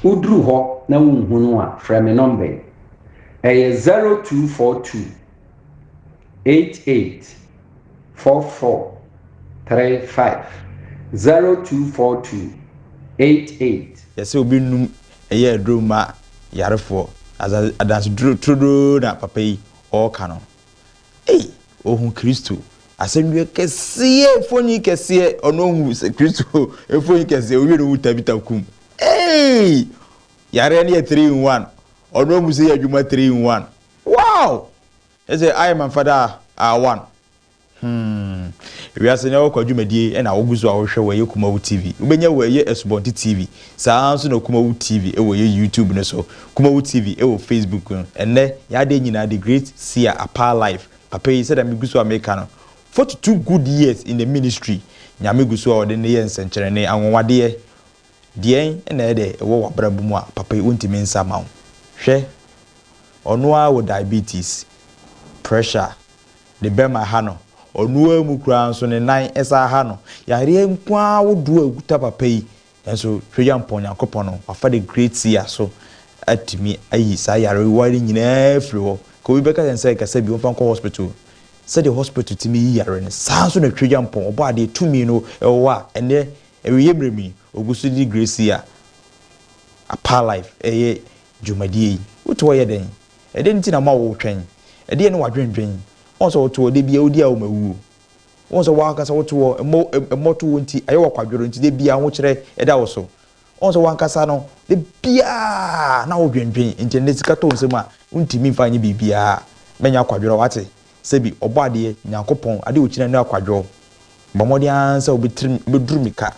Woduru hɔ na wonhunu a, frɛ me nɔmba yi. Ɛyɛ 0242 88 44 35, 0242 88. Yɛsɛ obi num ɛyɛ aduro mma yarefoɔ. Adanse turodoo na papa yi ɔɔka no. Ei! Ɔhu Kristo. Asɛndua kɛseɛ, mfoni kɛseɛ, ɔno ɔhu Kristo, mfoni kɛseɛ, ɔwie no ɔhu Tabitha kum. Ei! Yareɛ no yɛ three in one, ɔno ɔhu sɛ yɛ adwuma three in one. Wow! Ɛsɛ I my father are one. Hmm. Wiase no ɛwɔ kwa dwumadie ɛna wogu so a wohwɛ wɔ ɛyɛ Kumawu TV. Wobɛnya wɔ ɛyɛ Asubɔnten TV. Saa ara nso na Kumawu TV ɛwɔ ɛyɛ YouTube no so. Kumawu TV ɛwɔ Facebook no. Ɛnnɛ, yɛn adeɛ nyinaa the great Sia Apaa Life. Papa yi sɛdeɛ megu so a meka no, forty two good years in the ministry. Nyame gu so a ɔde no yɛ nsɛnkyerɛnne, anwanwadeɛ Deɛn na ɛyɛ dɛ wɔ w'abrabɔ mu a papa yi wontumi nsa ma wo? Hwɛ, ɔno ara wɔ diabetes, pressure, ne bɛm aha no, ɔno ara mu koraa nso ne nan san aha no, yareɛ nko ara ahodoɔ a ɛkuta papa yi, nanso Tweaduampɔn Nyankopɔn no, wafa the great seer so atumi ayi saa yarewa no nyinaa afiri hɔ. Nka obi bɛka kyerɛ no sɛ kasa bi, ɔmfa nkɔ hospital. Sɛdeɛ hospital tumi yi yareɛ no, saa ara nso na Tweaduampɔn, Ɔbɔadeɛ, tumi no wɔ hɔ a, ɛnnɛ Awieeɛ berɛ mu yi, ɔgu so de Gracia Apaa Live reyɛ dwumadie yi. Wote hɔ yɛ dɛn? Ɛdeɛn nti na ama woretwɛn? Ɛdeɛn ne w'adwendwen? Woahu sɛ wote hɔ, da biara wodi a woma wuo. Woahu sɛ w'ankasa wote hɔ, mmɔtoɔ nti, ayɛ wo akwadworɔ nti, da biara ahokyerɛ da wo so. Woahu sɛ w'ankasa no, da biara na wodwendwen, nti ɛnnɛ sika tɔ wo nsam a, wontumi mfa nyɛ biribiara. Mɛnyɛ akwadworɔ, woate? Sɛ bi, Ɔbɔadeɛ, Nyankopɔn, ade a ogyina no akwadworɔ. Bɔ mmɔden ara sɛ wobɛtrim, wobɛduru me ka,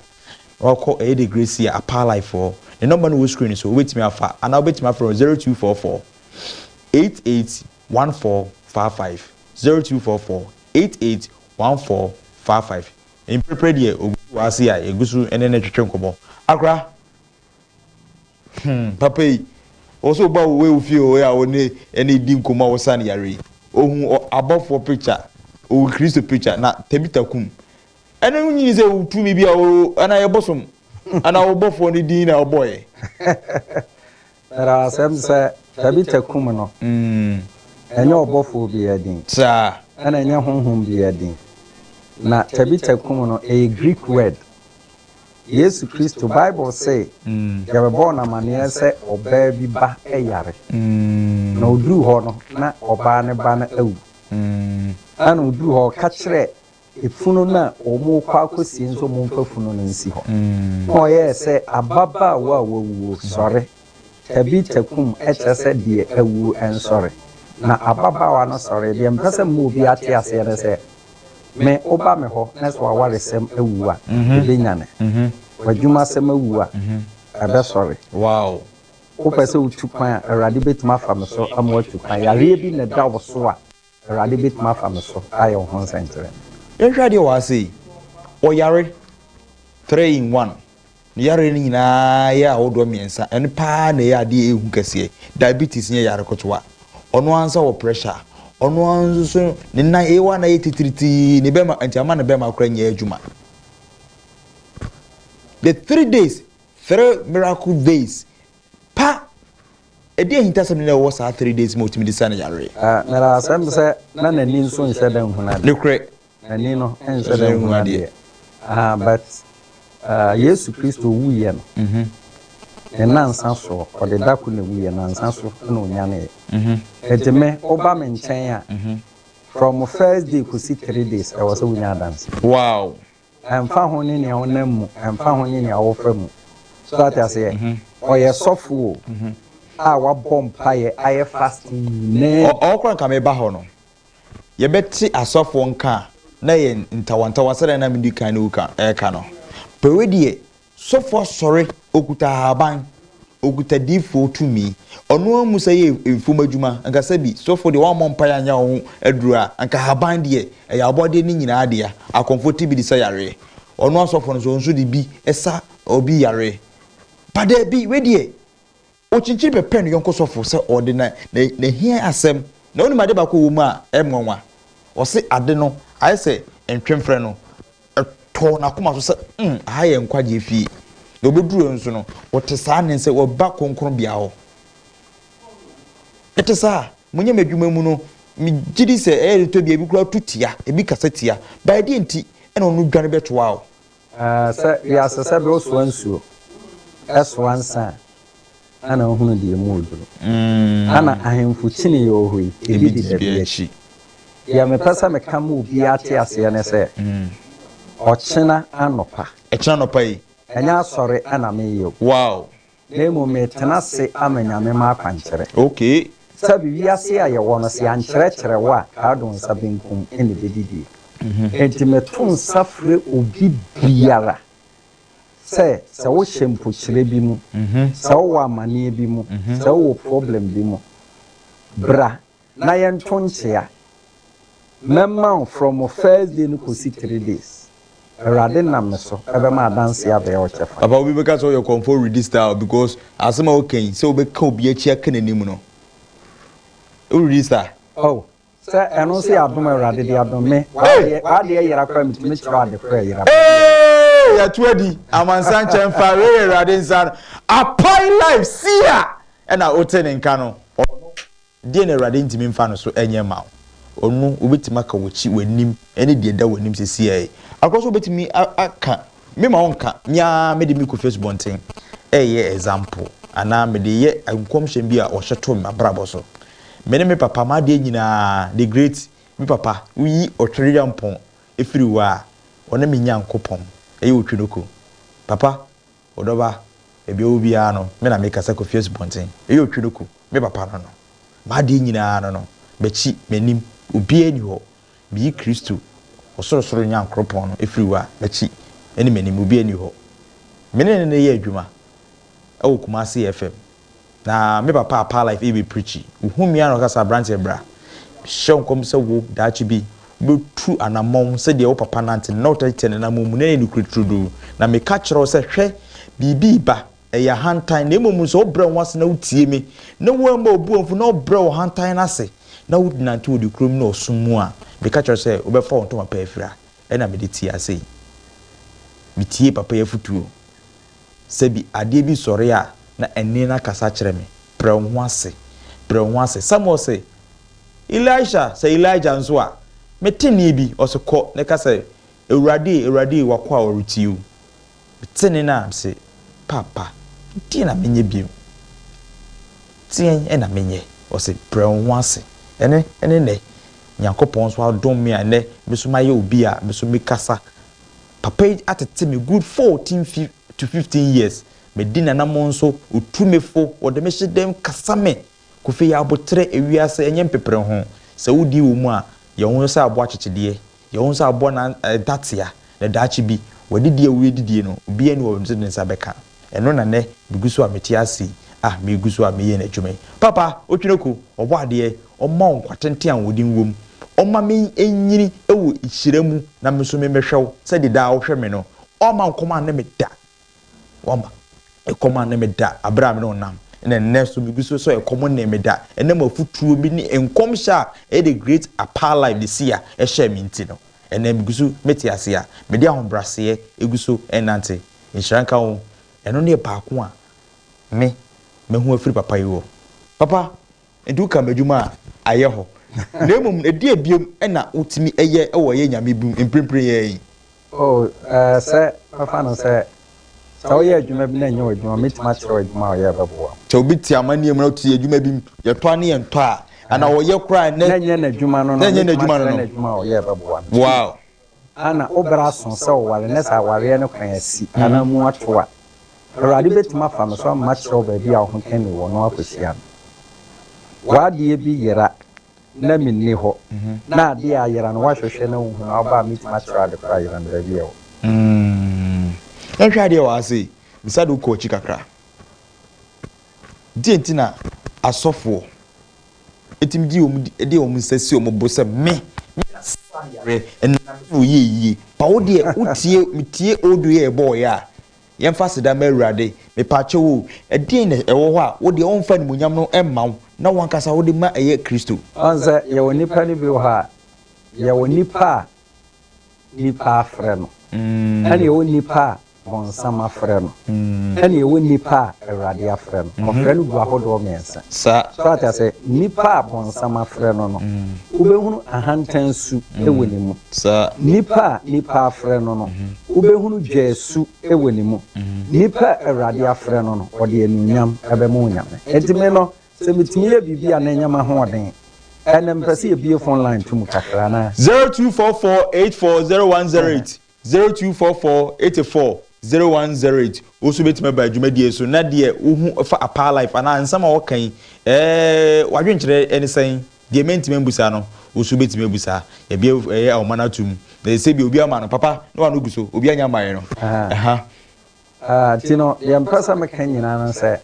na woakɔ Eddie Gracia Apaalifɔɔ. Ne nɔmba no wɔ screen so, wobɛtumi afa, anaa wobɛtumi afrɛ no 0244 881455, 0244 881455. Mprɛprɛ deɛ, obi te w'ase a, yɛgu so ne no twetwe nkɔmmɔ. Akora! Hmm papa yi wo so ba wo ewo fie o ya wo ne ɛne di nkomo a wo san yare yi ohu ɔ abɔfoɔ picture ohu kristo picture na tabita kum ɛno no nyini sɛ wo tumi bi a wo ana yɛ bosom ana wo bɔfoɔ no din na ɔbɔ yɛ Ɛra asɛm sɛ tabita kum no ɛnyɛ ɔbɔfoɔ bi a din saa ɛna ɛnyɛ honhom bi a din na tabita kum no ɛyɛ greek word. Yesu Kristo, Bible se yɛbɛbɔɔ no amanneɛ sɛ ɔbaa bi ba yare, na ɔduruu hɔ no, na ɔbaa no ba no awu. Ɛna ɔduruu hɔ, ɔka kyerɛɛ efunu no a wɔrekɔ akɔsie no sɛ wɔmfa funu no nsi hɔ, na ɔyɛɛ sɛ ababaawa a wawuo, sɔre! Tabi takum kyerɛ sɛ deɛ awu nsɔre. Na ababaawa no sɔree. Deɛ mepɛ sɛ mema obi ate aseɛ ne sɛ, me woba me hɔ na sɛ w'awaresɛm awu a, ɛbɛnyane. W'adwumasɛm awu a, ɛbɛsɔre. Wopɛ sɛ wotu kwan a, Awurade bɛtumi afa me so ama woatu kwan. Yareɛ bi na ɛda wo so a. Awurade bɛtumi afa me so ayɛ wo ho nsɛnkyerɛnne. Yɛnhwɛ adeɛ wɔ ha sei, ɔyare, three in one, ne yareɛ no nyinaa yɛ ahodoɔ mmiɛnsa, ɛno paa na ɛyɛ adeɛ ɛhu kɛseɛ, diabetes nyɛ yare ketewa, ɔno ara nso wɔ pressure, ɔno ara nso ne nan ɛyɛ wa na ɛyɛ titiritii, ne bɛma, nti ama ne bɛma koraa nyɛ adwuma. The three days, three miracle days, Pa! Ɛdeɛn ahintasɛm ne na ɛwɔ saa three days ma ɔtumi de saa ne yareɛ? Ah, na asɛm sɛ na n'ani nso nhyɛ da nhunu adeɛ. Nokorɛ. N'ani no nhyɛ da nhunu adeɛ. Ah, but ah, Yesu Kristo wuiɛ no, ne nnansa soɔ, ɔde da ko na ɛwuiɛ, nnansa so na ɔnyaneeɛ. Enti me, woba me nkyɛn a, from first day kɔsi three days, ɛwɔ sɛ wonya adanseɛ. Wow! Ɛmfa ho ne nea ɔnam mu, ɛmfa ho ne nea ɔfa mu. So ate aseɛ? Ɔyɛ sɔfo o, a wabɔ mpaeɛ, ayɛ fasting nyinaa bi. Ɔwɔ koro anka meba hɔ no, yɛbɛte asɔfoɔ nka a na ɛyɛ ntawantawa sɛdeɛ na medi kan reka no. Pɛwɛ deɛ, Sɔfoɔ sɔre, ɔkuta ahaban, ɔkuta diifoɔ tumi. Ɔno ara mu sɛ yɛ mfom adwuma, anka sɛ bi sɔfoɔ deɛ wammɔ mpaeɛ anyɛ ho aduro a, anka ahaban deɛ ɛyɛ abɔdeɛ no nyinaa dea. Akɔmfoɔ te bi de sa yareɛ, ɔno asɔfoɔ no nso, ɔno nso de bi sa obi yareɛ. But daabi, wei deɛ. Okyinkyin bɛpɛ ne yɔnko sɔfo sɛ ɔde na n'ahia asɛm, na onim ade baako a ɛwɔ mu a ɛyɛ nwanwa. Ɔse ade no ayɛ sɛ ntwemfrɛ no tɔɔ n'akoma so sɛ, mm, aha yɛ nkwagyeɛ fie. Na ɔbɛduru hɔ nso no, ɔte saa nne sɛ waba kronkronbea hɔ. Ɛte saa? Monyɛ m'adwuma mu no, megye di sɛ ɛyɛ de tɔ bi a ebi koraa tu tia, ebi kasa tia. But ɛdeɛn nti na ɔno dwane bɛtoa wo A Sɛ wiase sɛ bere ɔsoa nsuo, ɛsoa nsa a, ana ɔhunu deɛ emu ɔduru? Ana ahemfo kyini yɛ ɔhoi, ebi di dabi akyi? Deɛ mepɛ sɛ meka ma obiara te aseɛ ne sɛ, ɔkyena anɔpa. Ɛkyena anɔpa yi. Ɛnyɛ asɔre na mereyɛ o. Wow! Na mmom metena ase ama Nyame m'akwankyerɛ. Okay. Sɛbe wiase a yɛwɔ no, se yɛankyerɛkyerɛ wo a, krado nsa benkum na ebedidie. Enti meto nsa frɛ obi biara sɛ, sɛ wohyɛ mpokyerɛ bi mu, sɛ wowɔ amaneɛ bi mu, sɛ wowɔ problem bi mu, bra na yɛnto nkyea. Mɛma wo from wo first day no kɔsi three days. Awurade nam me so bɛma adanseɛ abɛyɛ wo kyɛfa. Papa obi bɛka sɛ woyɛ kɔmfoɔ redi style because asɛm a woka yi sɛ wobɛka obi akyi aka n'anim no wo redi style. Oh sɛ ɛno nso yɛ adom a Awurade de adom me, w'adeɛ yera koraa metumi kyerɛ wo ade korɔ a ɛyera paa. Eeii yɛto adi, amansan nkyɛn fa, wei yɛ Awurade nsa ano, apae live, sia! Ɛna wote ne nka no, ɔno. Deɛn na Awurade ntumi mfa no so nyɛ mma wo? Ɔno, ɔbɛtumi aka w'akyi, w'anim, ne deɛ ɛda w'anim seesei. Akokɔ nso ɔbɛtumi aka, me ma ɔnka, me ara mede me kɔfi asubɔnten reyɛ example, anaa mede reyɛ nkɔmhyɛ bi a ɔhyɛ too m'abrabɔ so. Me ne me papa, m'adeɛ nyinaa, the great, me papa, woyi Ɔtweryampɔn firi hɔ a, ɔne me Nyankopɔn, ɛyɛ Otwinoko. Papa, Ɔdɔba, baabi a ɔwɔ biara no, me na mekasa kɔfi asubɔnten, ɛyɛ ɔtwe no kɔ me papa no no. M'adeɛ nyinaa no no, m'akyi, m'anim, obiara nni hɔ. Meyi Kristo, ɔsorosoro Nyankoropɔn no firi hɔ a, m'akyi ne m'anim, obiara nni hɔ. Me ne no na ɛyɛ adwuma wɔ Kumasi FM, Na me papa apaa life ebi preachy ohu me ara na ɔka sɛ abranteɛ bra me hyɛ wo nkɔm sɛ wo daakye bi wo bɛ tu anamɔn sɛ deɛ wo papa nante no na wo tɛ tɛ ne namɔn mu na ɛyɛ nokorɛ turodoo na me ka kyerɛ wo sɛ hwɛ biribi reba ɛyɛ ahantan na mmom sɛ wo brɛ wo ase na wo tie me na wo amma obu amfu na wo brɛ wo hantan no ase na wo nante wɔ nokorɛ mu ne ɔsom mu a me ka kyerɛ wo sɛ wo bɛ fa wo ntoma pa afira ɛna me de tiaa sei me tiee papa yi afutuo. Sɛ bi adeɛ bi sɔre a, na ɛnne no akasa kyerɛ me, Brɛ wo ho ase, brɛ wo ho ase. Samuel se, Elisha, sɛ Elijah nso a, mete nne bi, ɔse, Kɔ na ka sɛ, 'Awurade e, Awurade e, w'akoa ɔretie o. Mete nne no a, mese, Paapa, deɛn na menyɛ bio? Deɛn na menyɛ? Ɔse, Brɛ wo ho ase. Ɛne, ɛne nnɛ, Nyankopɔn nso adom me a nnɛ me nso mayɛ obi a me nso mekasa Papa yi atete me good fourteen to fifteen years, madi n'anamɔn so, ɔtu me fo, ɔde me hyɛ dam kasa me. Kofi yɛ aboterɛ, ewiase ɛnyɛ mpepere ho. Sɛ wodie wɔ mu a, yɛ wo ho sɛ aboa kyekyedeɛ, yɛ wo ho sɛ aboa na ntatea, na daakye bi, w'adidie a woredidie no, obiara nni hɔ a ɔbɛtumi de ne nsa bɛka. Ɛno na nnɛ megu so a mete ase yi, ah, megu so a meyɛ N'adwuma yi. Papa, Otwenoko, Ɔbɔ adeɛ, Ɔmma wo nkwa tenten a ahoɔden wom, Ɔmma me nyini wɔ hyira mu na me nso me mmɛhwɛ wo sɛdeɛ daa wohwɛ me no, Ɔmma nkɔm anne me da, Wamma ɛkɔm anne me da berɛ a me ne wo nam, ɛna nnɛ nso megu so sɛ ɛkɔm nnee me da, ɛnam afutuo bi ne nkɔmhyɛ a ɛyɛ The Great Apaa Live this year hyɛɛ me nti no, ɛnnɛ megu so mete ase a mede ahobraseɛ gu so renante. Nhyira nka wo. Ɛno ne baako a me mahu afiri papa yi hɔ. Papa, nti wo ka m'adwuma a ayɛ hɔ. Na mmom ɛdeɛn biom na wo tumi yɛ wɔ yɛ Nyame bi mu mprempren ara yi? Oh, eh, sɛ bɛfa no sɛ, sɛ wo yɛ adwuma bi na ɛnyɛ w'adwuma, me tumi akyerɛ wo adwuma a ɔyɛ a ɛbɛboa wo. Sɛ obi te amanneɛ mu na ɔte adwuma bi mu, yɛtɔ a ne yɛ ntɔ a, anaa ɔyɛ koraa a, na ɛnyɛ n'adwuma no no, me tumi akyerɛ no adwuma a ɔyɛ a ɛbɛboa no. Wow. a na wo bere aso sɛ woware na sɛ awareɛ no kwan asi anaa mu ato a, Awurade bɛtumi afa me so ama makyerɛ wo baabi a wo ho ka nni wɔ na woakɔhyia me. W'adeɛ bi yera na menni hɔ, na adeɛ a ayera no woahwehwɛ na wonhu na woba a mɛtumi akyerɛ wo ade korɔ a ayera no baabi a ɛwɔ. Umm yɛnhwɛ adeɛ wɔ ha sei, bisa de wokɔ akyi kakra. Deɛ nti na asɔfoɔ. Ɛtumi gye wɔn di, ɛde wɔn nsa si wɔn bo sɛ, Me, me na saa yare no nam so na ɔyɛ yie. Pa wo deɛ, wotie, metie odo yɛ ɛbɔɔeɛ a, yɛmfa aseda ma Awurade. Mepaakyɛw o, ɛdeɛn na ɛwɔ hɔ a wo deɛ wɔmfa animuonyam no mma wo na wo ankasa wode ma ɛyɛ Kristo? Ɔn sɛ yɛwɔ nnipa no bi wɔ hɔ a, yɛwɔ nnipa a nipa afrɛ no, ɛna ɛwɔ nipa a bɔnsam afrɛ no, ɛna ɛwɔ nipa a Awurade afrɛ no. Wɔfrɛ no gu ahodoɔ mmiɛnsa. So ate aseɛ? Nipa a bɔnsam afrɛ no no, wobɛhunu ahantan su wɔ ne mu. Nipa a nipa afrɛ no no, wobɛhunu dwɛɛ su wɔ ne mu. Nipa a Awurade afrɛ no no, ɔde anuonyam bɛma Onyame. Enti me no, Sɛ metumi yɛ biribi a na ɛnyɛ m'ahoɔden. Ɛnnɛ, mepɛ sɛ yɛbue fon line to mu kakra, anaa? Zero two four four eight four zero one zero eight zero two four four eighty four zero one zero eight Wo nso wobɛtumi aba dwumadie yi so na deɛ wohu fa Apaa Life anaa nsɛm a wɔka yi ɛɛɛ w'adwenkyerɛ ne sɛn? Deɛ mantumi ambusa no wo nso wobɛtumi abusa. Yɛabue ɛɛɛ ahoma no atom na sɛdeɛ obi ama no papa na wano gu so, obi annya mmaeɛ no ɛha. Ah, nti no, deɛ mpɛ sɛ meka nyinaa no sɛ,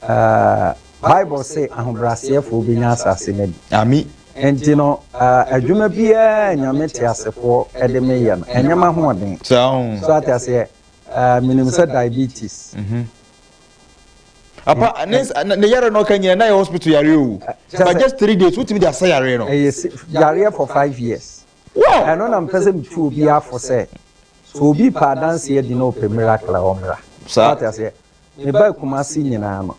ah, Bible se ahobrɛaseɛfoɔ bɛnya asase no bi. Ami. Nti no, ah, adwuma biara Nyame teasefoɔ de me yɛ no, ɛnyɛ m'ahoɔden. Saa o. So ate aseɛ? Ah, menim sɛ diabetes. Mhm. Apa, ne, ne yare no ɔka nyina na yɛ hospital yare o. But just three days, wotumi de asa yare no. Ɛyɛ yareɛ for five years. Ɛno na mepɛ sɛ metu obiara fo sɛ, sɛ obi pɛ adanse adi na ɔpɛ miracle a ɔmmra. So ate aseɛ? Mebaa Kumasi nyinaa no,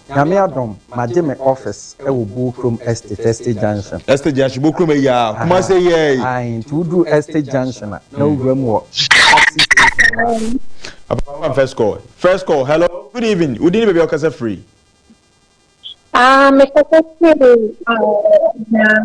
Nyame adom, magye me office wɔ Bokrom Estate, Estate Junction. Estate Junction, Bokrom ayi a Kumasi ayi ara yi. Ae, nti woduru Estate Junction a, na wowura mu wɔ taxi station hɔ a. Papa fa ma first call. First call, hello, good evening, wo din ne baabi a wokasa firi? Ah, mekasa firi, ah, Ghana.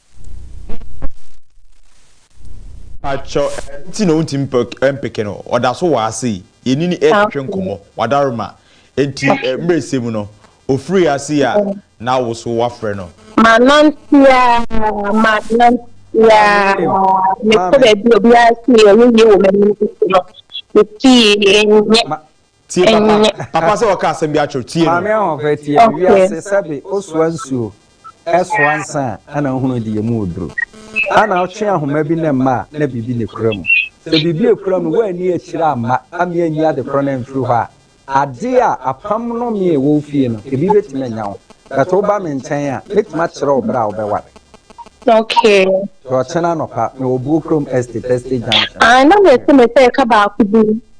Pacho ɛno nti na wontumi mpeke no ɔda so wɔ ase yi yɛne no ɛretwetwe nkɔmmɔ wadaroma nti mmerɛsɛ mu no ɔfiri ase yi a na awo so wafrɛ no. Manantea manantea mekɔ baabi obiara sii ɔyɛ yie wɔ m'anim no mesii ɛnyɛ Tie papa, papa sɛ ɔka asɛm bi akyerɛw, tie no. Maame Ahoɔfɛ tie me, wiase sɛbe osoa nsuo, ɛsoa nsa a ɛna wohunu de yɛmu wo duro. Ɛna wotwe ahoma bi ne mma a na biribi na ekura mu. Sɛ biribi a ekura mu no woanni akyire amma amia anyi adekorɔ no amfiri hɔ a, adeɛ a apam nnome a ɛwɔ wo fie no ebi bɛtumi anya wo. But woba me nkyɛn a, mɛtumi akyerɛ wo berɛ a wobɛware. Okay. Nti ɔkyena anɔpa, mewɔ Buokrom Estate, Estate Junction. Ae, na mese mesɛ ka baako bi.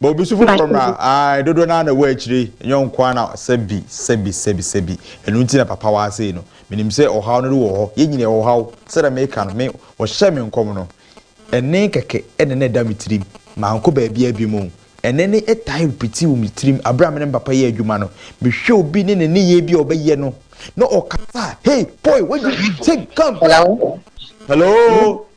Ma obi so foforɔ mmra. Ae, dodoɔ no ara na ɛwɔ akyire yi, ɛnyɛ wo nko ara na sɛbi, sɛbi, sɛbi, sɛbi. Ɛno nti na papa wɔ ha sei no. Menim sɛ ɔhaw no de wɔ hɔ. Yɛn nyinaa yɛwɔ ɔhaw. Sɛdeɛ meka no, me, wɔhyɛɛ me nkɔm no, ɛnne kɛkɛ na na ɛda me tirim. Mankɔ baabiara bio mmom. Ɛnne no tae repiti wɔ me tirim. Berɛ a me ne me papa yɛ adwuma no, mehwɛ obi ne ne nneyɛɛ bi a ɔbɛyɛ no, na ɔkasa a, Hey, boy, what do you think? Come, come. Hello? Hello?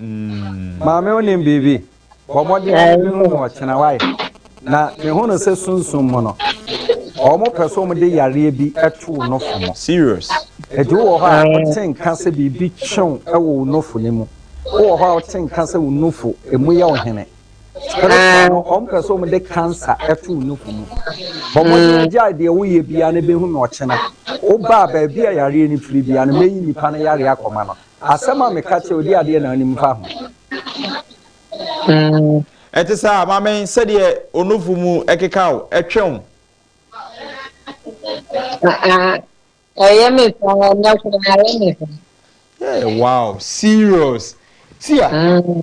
Maame wonim biribi? Bɔ mmɔden na bɛhu no ɔkyena wae. Na mehu no sɛ sunsum mu no, wɔpɛ sɛ wɔde yareɛ bi to wo nofo mu. Serious? Enti wowɔ hɔ a wote nka sɛ biribi twe wo wɔ wo nofo no mu? Wowɔ hɔ a wote nka sɛ wo nofo emu yɛ wo hene? Spiritual no, wɔpɛ sɛ wɔde cancer to wo nofo mu. Bɔ mmɔden na gyae deɛ woyɛ biara na bɛhu no ɔkyena. Woba a baabi a yareɛ no firi biara no, mɛyi nnipa no yareɛ akɔma no. Asɛm a meka kyerɛ wo de adeɛ na wonim fa ho. Mm. Ɛte saa, maame, sɛdeɛ onufo mu keka wo, ɛtwe wo. Ɛyɛ me saa, ɛnɛ koraa ɛyɛ me saa. Hey, wow, serious. Tia, mm.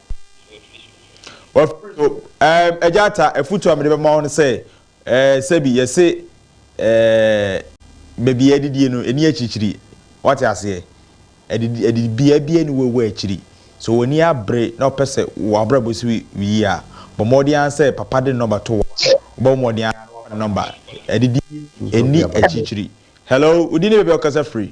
Wɔfrɛ no, ɛɛm, Agya Atta, afutu a mede bɛma wo no sɛ, ɛɛ, sɛbi, yɛse, ɛɛ, baabi a yɛadidie no, ɛni akyirikyiri. Woate aseɛ? Adidi, adidibea biara nni hɔ wɔ akyiri. Sɛ w'ani abere na wopɛ sɛ w'abrabɔ si yie a, bɔ mmɔden ara sɛ Papa de ne nɔmba to wo hɔ. Wobɛbɔ mmɔden ara na woafa ne nɔmba. Adidie, ɛnni akyirikyiri. Hello, wo din ne baabi a wokasa firi?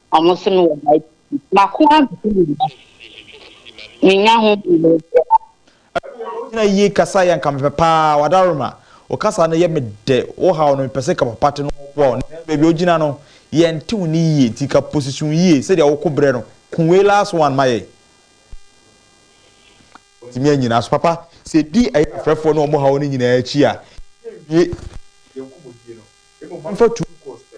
Ɔmo se me wɔ Bible bi. Mako ara na ɛyɛ mma. Minnya ho mmuae biara. Ɛwɔ hɔ, wogyina yie kasa yɛ anka mepɛ paa w'adaworoma wo kasa no yɛ me dɛ wo haw no mepɛ sɛ ka papa te no wɔ boa wo nanso baabi a wogyina no yɛ nte wo nne yie nti ka position yie sɛdeɛ wo ko brɛ no ko wei last one ma yɛn tumi anyina so papa sɛ di ɛyɛ afrɛfoɔ ne wɔn haw no nyinaa akyi a yɛnwie yɛn nkɔmmɔdie no mmom momfa two course pɛ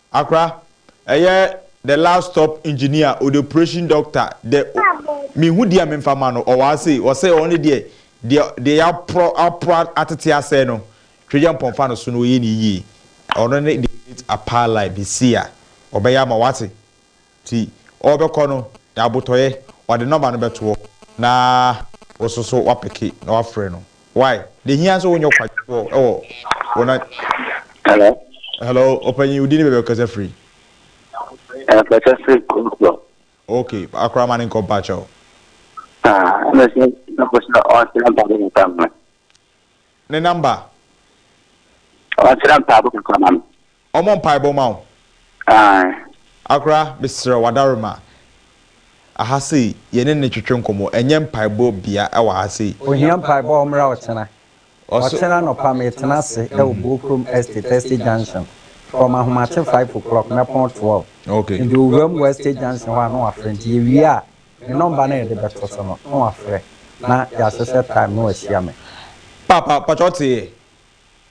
Accra, ɛyɛ the last stop engineer o the operation doctor the me hu deɛ me nfa ma no ɔwɔ ha sei ɔsɛ ɔno ne deɛ deɛ deɛ ya porɔ aporɔ atete asɛe no twɛgya mpɔn fa no so no ɔyɛ ne yie ɔno ne the great apalai mesia ɔbɛyɛ ama wate. Nti ɔrebɛkɔ no, na abotɔeɛ, ɔde nɔma no bɛtoɔ na wo nso so woapeke na woafrɛ no. Wai? Deɛ ɛhia sɛ wonyɛ ɔkwadwofoɔ wɔ wo na. Hello. Hello, ɔpanyin, wo din ne baabi a wokasa firi? Ɛkasa firi Kumsɔ. Ok, akora ma ne nkɔ mpakyɛw. Ah, ɛna sɛ nɔpɔ sɛ ɔkyerɛ mpaabɔ kakra ma me. Ne namba? Ɔkyerɛ mpaabɔ kakra ma me. Ɔmɔ mpaebɔ ma wo. Ae. Akora mesrɛ wo Adaroma aha sei yɛne no twetwe nkɔmmɔ ɛnyɛ mpaebɔ bea wɔ ha sei. Ohia mpaebɔ ɔmmra ɔkyena. Ɔkyena anɔpa metena ase wɔ Bookroom Estate Estate Junction from ahomakye five o'clock mɛpɔn twelve. Medu owura mu wɔ Estate Junction hɔ a na wafrɛ nti yɛwie a me nɔmba no a yɛde bɛto so no na wafrɛ na yɛahyehyɛ time na wahyia me. Paapa pakyɛ ɔteeɛ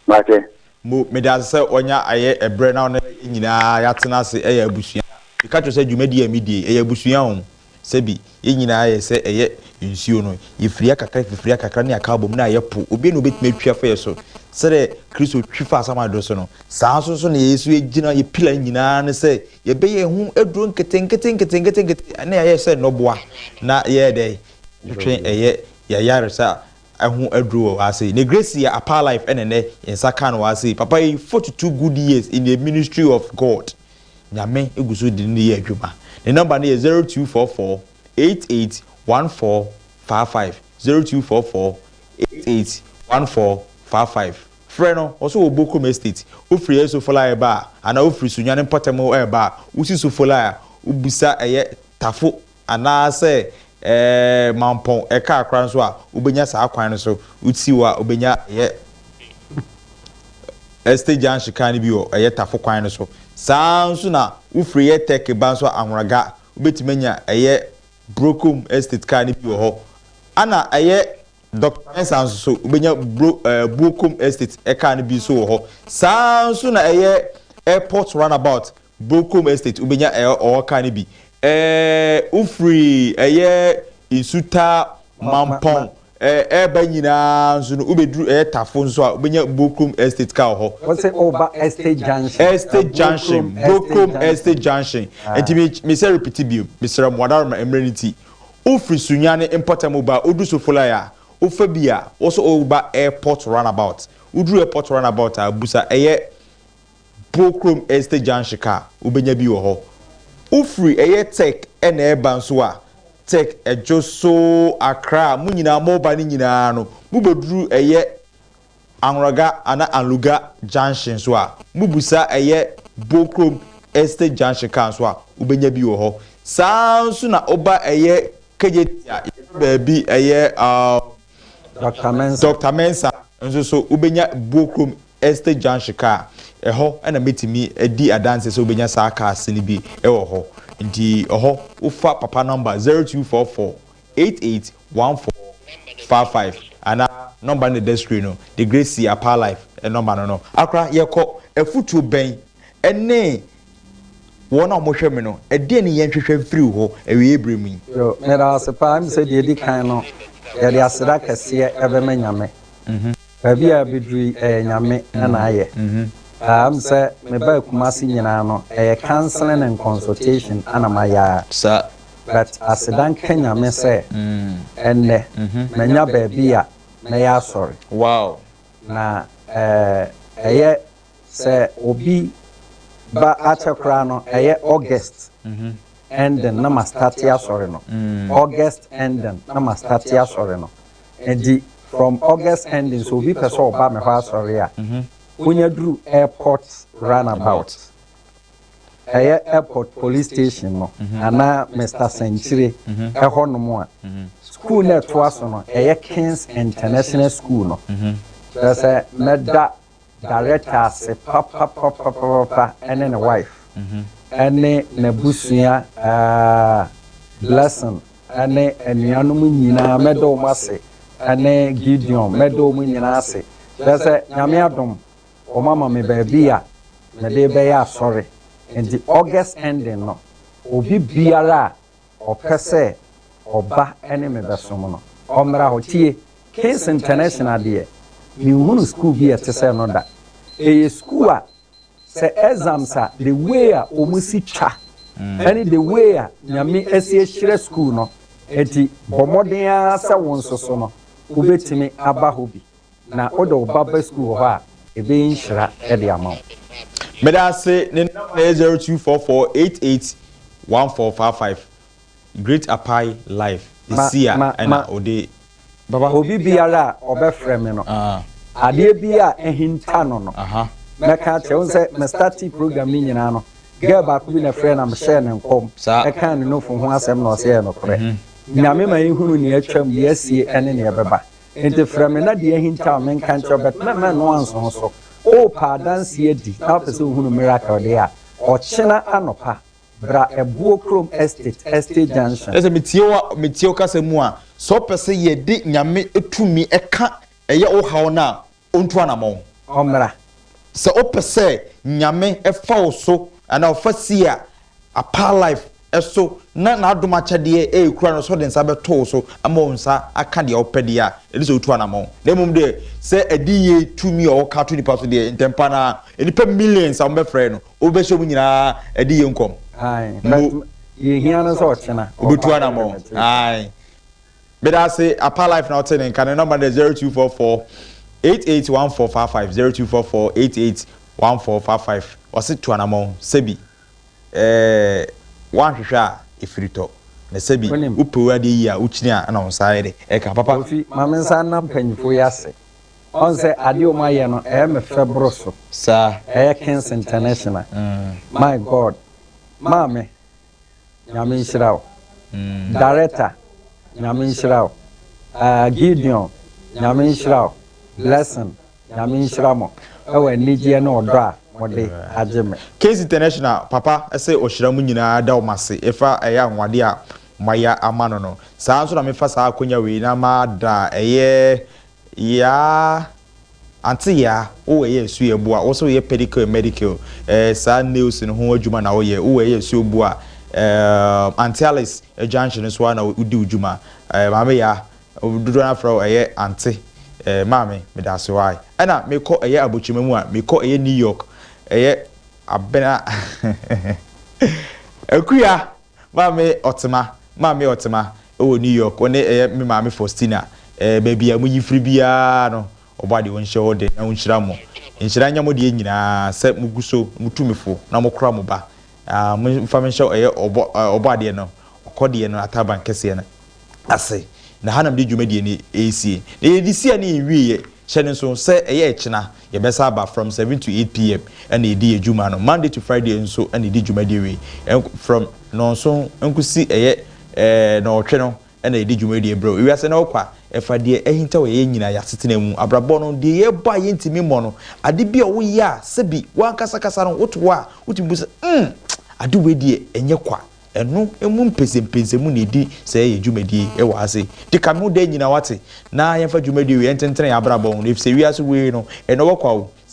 Wate? Mbu, meda ase sɛ wanya ayɛ ɛberɛ na wo ne yɛn nyinaa yɛatena ase ɛyɛ abusua. Meka kyerɛ wo sɛ dwumadie a medie yi, ɛyɛ abusua o. Sɛbi, yɛn nyinaa yɛ sɛ ɛyɛ nsuo no, yɛfiri akakra fifiri akakra ne aka abom na ayɛ po. Obiara nni hɔ a ɔbɛtumi atwi afa yɛn so. Sɛdeɛ Kristo twi faa Samuel dɔ so no, saa ara nso nso na yɛn nso yɛgyina, yɛn pillar nyinaa ne sɛ yɛbɛyɛ yɛn ho aduro nketenkete nketenkete nkete na yɛayɛ sɛ nnɔboa na yɛyɛ dɛn? Yɛtwetwe ɛyɛ yɛn ayaresa ho aduro wɔ ha sei ne grace yɛ apaa life ɛna ɛnɛ yɛn nsa kaa no wɔ ha sei papa yi forty two good years in the ministry of God nyame egu so de ne yɛ adwuma ne number no yɛ zero two four four eight eight one four five five zero two four four eight eight one four five five frɛ no ɔso wɔ bokom estate wofiri ɛyɛ sofola ɛba a anaa wofiri sunyan mpɔtam ɛba a wosi sofola a wobisa ɛyɛ tafo Anaasɛ mampɔn car koraa nso a, wobɛnya saa kwan no so. Wosi hɔ a, wobɛnya ɛyɛ Estate Junction car no bi wɔ ɛyɛ Tafo kwan no so. Saa ara nso na wofiri ɛyɛ Turkey ba nso a, Ahronaga, wobɛtumi anya ɛyɛ Brokom Estate car no bi wɔ hɔ. Ɛna ɛyɛ Doctor Mensah nso so, wobɛnya Bro ɛɛ Buokom Estate car no bi nso wɔ hɔ. Saa ara nso na ɛyɛ Airport Runabout, Brocom Estate wobɛnya ɛɛ ɔɔ car no bi ɛɛ wofiri ɛyɛ Nsutaa Mampɔn ɛɛ ɛɛba nyinaa nso no wobɛduru ɛyɛ Tafo nso a wobɛnya Brocom Estate car wɔ hɔ. Wose woba Estate Junction. Estate Junction, Brocom Estate Junction nti me mesɛ repete bio mesrɛ mo Adaworoma mmerɛ no nti wofiri Sunyani mpɔtam woba a woduru Sofolae a wofa bi a wose woba Airport Runabout woduru Airport Runabout a busa ɛyɛ Pookrom Estate Junction ka a, wobɛnya bi wɔ hɔ. Wofiri ɛyɛ Tech na ɛreba nso a, Tech, Dwoso, Accra a mo nyinaa moreba no nyinaa no, mobɛduru ɛyɛ Anroga anaa Anluga Junction nso a, mobisa ɛyɛ Bookrom Estate Junction ka nso a, wobɛnya bi wɔ hɔ. Saa ara nso na woba ɛyɛ Kegyeti a, yɛfrɛ baabi ɛyɛ, uh, Doctor Mensah. Doctor Mensah nso so, wobɛnya Bookrom Estate Junction car, ɛhɔ na mɛtumi adi adanseɛ sɛ wobɛnya saa cars no bi wɔ hɔ. Nti ɛhɔ wofa papa number zero two four four eight eight one four five five anaa number no na ɛda screen no de Gracie Apaa Life number no no. Akora yɛkɔ afutuo bɛn ne Wɔn a wɔhwɛ me no, ɛdeɛn ne yɛnhwehwɛ mfiri wo hɔ awieeɛ berɛ mu yi? Yo, meda wo ase paa. Ɛm sɛ deɛ ɛdi kan no, yɛde aseda kɛseɛ bɛma Nyame. Baabi a yɛabɛduru yi, ɛyɛ Nyame na ayɛ. Ɛm sɛ mebaa Kumasi nyinaa no, ɛyɛ counseling and consultation na mayɛ ara. But aseda nka Nyame sɛ ɛnnɛ, manya baabi a mɛyɛ asɔre. Na ɛyɛ Sɛ obi ba akyɛ koraa no ɛyɛ August ending na ma starte asɔre no August ending na ma starte asɔre no nti from August ending sɛ obi pɛ sɛ ɔba me hɔ asɔre a wonya duru airport run about ɛyɛ airport police station no anaa Mister Sankyire ɛhɔ nom a school no ɛtoa so no ɛyɛ Kings International school no kyerɛ sɛ mɛda Director ase papapapapapa ɛne ne wife ɛne n'abusua aah Blessing ɛne anuanom nyinaa mɛda wɔn ase ɛne Gideon mɛda wɔn nyinaa ase kyerɛ sɛ Nyame adom wɔn ama me baabi a mede bɛyɛ asɔre nti August ending no obi biara a Ɔpɛ sɛ ɔba ne me bɛsom no. Ɔmmra hɔ. Tie, Case International deɛ, menhunuu sukuu bi a ɛte sɛ no da. Ɛyɛ sukuu a sɛ exams a, the way a wɔsi twa ne the way a Nyame asi ahyira sukuu no, enti bɔ mmɔden ara sɛ wo nso so no, wobɛtumi aba hɔ bi. Na wode wo ba ba sukuu wɔ hɔ a, ɛbɛyi nhyira de ama wo. Meda ase, ne number no yɛ zero two four four eight eight one four five five, Great Apae live, ɛsi a ɛna ɔde. Baba obi biara a ɔbɛfrɛ me no, adeɛ bi a ahinta no no, mɛka akyerɛ, wohu sɛ me startee program no nyinaa no, girl baako bi na ɛfrɛɛ na mehyɛɛ no nkɔm, ɛkaa ne nufu ho asɛm na ɔse ɛyɛ nokorɛ, Nyame ma yɛhunu nea atwam, deɛ asie ne nea ɛbɛba. Enti frɛ me na deɛ ahintaw me nka nkyerɛ wo, but mɛma ɛno anso wo so. Worepɛ adanseɛ adi na wopɛ sɛ wohunu miracle deɛ a, ɔkyena anɔpa, bra Ɛboɔ kurom Estate, Estate Junction. Ɛsɛ metie wo metie wo kasa mu a, sɛ wopɛ sɛ yɛde Nyame tumi ka ɛyɛ wo haw no a, Ɔntu anamɔn. Ɔmmra. Sɛ wopɛ sɛ Nyame fa wo so anaa ɔfa si a apaa life so na n'adom akyɛdeɛ ɛrekura no so de nsa bɛto wo so ama wo nsa aka deɛ wopɛ deɛ a, ɛne sɛ wotu anamɔn. Na mmom deɛ, sɛ adiyie tumi a ɔka to nnipa so deɛ, ntɛmpa no ara, nnipa millions a wɔbɛfrɛɛ no, wobɛhyɛ wɔn nyinaa adiyie nkɔm. Aye, but deɛ ɛhia no sɛ ɔkyena. Ɔbɛtu anamɔn. Aye. Meda ase apa life na wote ne nka ne number no yɛ zero two four four eight eight one four five five zero two four four eight eight one four five five ɔse tu anamɔn sɛbi ɛɛɛ woanhwehwɛ a ɛfiri tɔ na sɛbi Wonim. wo pɛw adeɛ yie a wokyini a ɛna wo nsa ayɛ dɛ ɛka papa. Kofi ma me nsa nna mpanyinfoɔ yi ase ɔn sɛ adeɛ ɔmo ayɛ no ɛyɛ me fɛ boro so Saa. ɛyɛ kings international my God maame. Nyame nhyira wo. Director, Nyame nhyira wo. Ahh Gideon, Nyame nhyira wo. Blessing, Nyame nhyira mo wɔ anigyeɛ ne ɔdɔ a mode agye me. Case International papa sɛ ɔhyira mo nyinaa da wɔn ase ɛfa ɛyɛ anwonwadeɛ a moayɛ ama no no. Saa ara nso na mefa saa akwanya wei na mada ɛyɛ Yaa aunty yaa wo ɛyɛ ɛsu yɛ boa wo sɛ wo yɛ pedicure medicure eh saa nails no ho adwuma na wo yɛ wo ɛyɛ ɛsu yɛ boa eh aunty alice ɛgyanhye no so a na wo di wo dwuma eh maame yaa dodoɔ na frɛ wo ɛyɛ aunty eh maame medase wai ɛna me kɔ ɛyɛ abokyema mu a me kɔ ɛyɛ new york ɛyɛ abena akuya Maame Ɔtema, Maame Ɔtema wɔ New York, wo ne ɛyɛ me maame Faustina, ɛɛ baabi a mo yi firi biara no, ɔbɔ adeɛ ɔnhyɛ wo den na ɔnhyira mo, nhyira nyɛ mo deɛ nyinaa sɛ mo gu so, mo tu me fo na mo kora mo ba, ah, mo nfa me nhyɛ ɛyɛ ɔbɔ, ɛɛ ɔbɔ adeɛ no, ɔkɔ deɛ no ataban kɛseɛ no. ase, na ha na mede dwumadie no resie. Na yɛde si a na yɛnwieɛ. Hyɛ no nso sɛ ɛyɛ ɛkyena, yɛbɛsan aba from seven to eight PM na yɛdi yɛn dwuma no. Monday to Friday nso na yɛdi dwumadie wei. From nnɔnson nkɔsi ɛyɛ nnɔɔtwe no na yɛdi dwumadie berɛ. Ewiase no rekɔ a, ɛfa deɛ ahintaw yɛn nyinaa, yɛn asetena mu, abrabɔ no, deɛ yɛrebɔ a yɛntumi mmɔ no, ade bi a woyɛ a sɛbi w'ankasa kasa no wote hɔ a wotumi bu sɛ, mm, ade wei deɛ ɛnyɛ kwa. Ɛno mu mpɛsɛmpɛsɛ mu na ɛdi sɛɛ yɛ dwumadie yi wɔ ha sei. Nti ka me ho daa nyina wate, na yɛmfa dwumadie wei ɛntentene yɛn abrabɔ ho, ɛfisɛ wiase wei no, ɛnɔwɔ kwa o. Sɛ.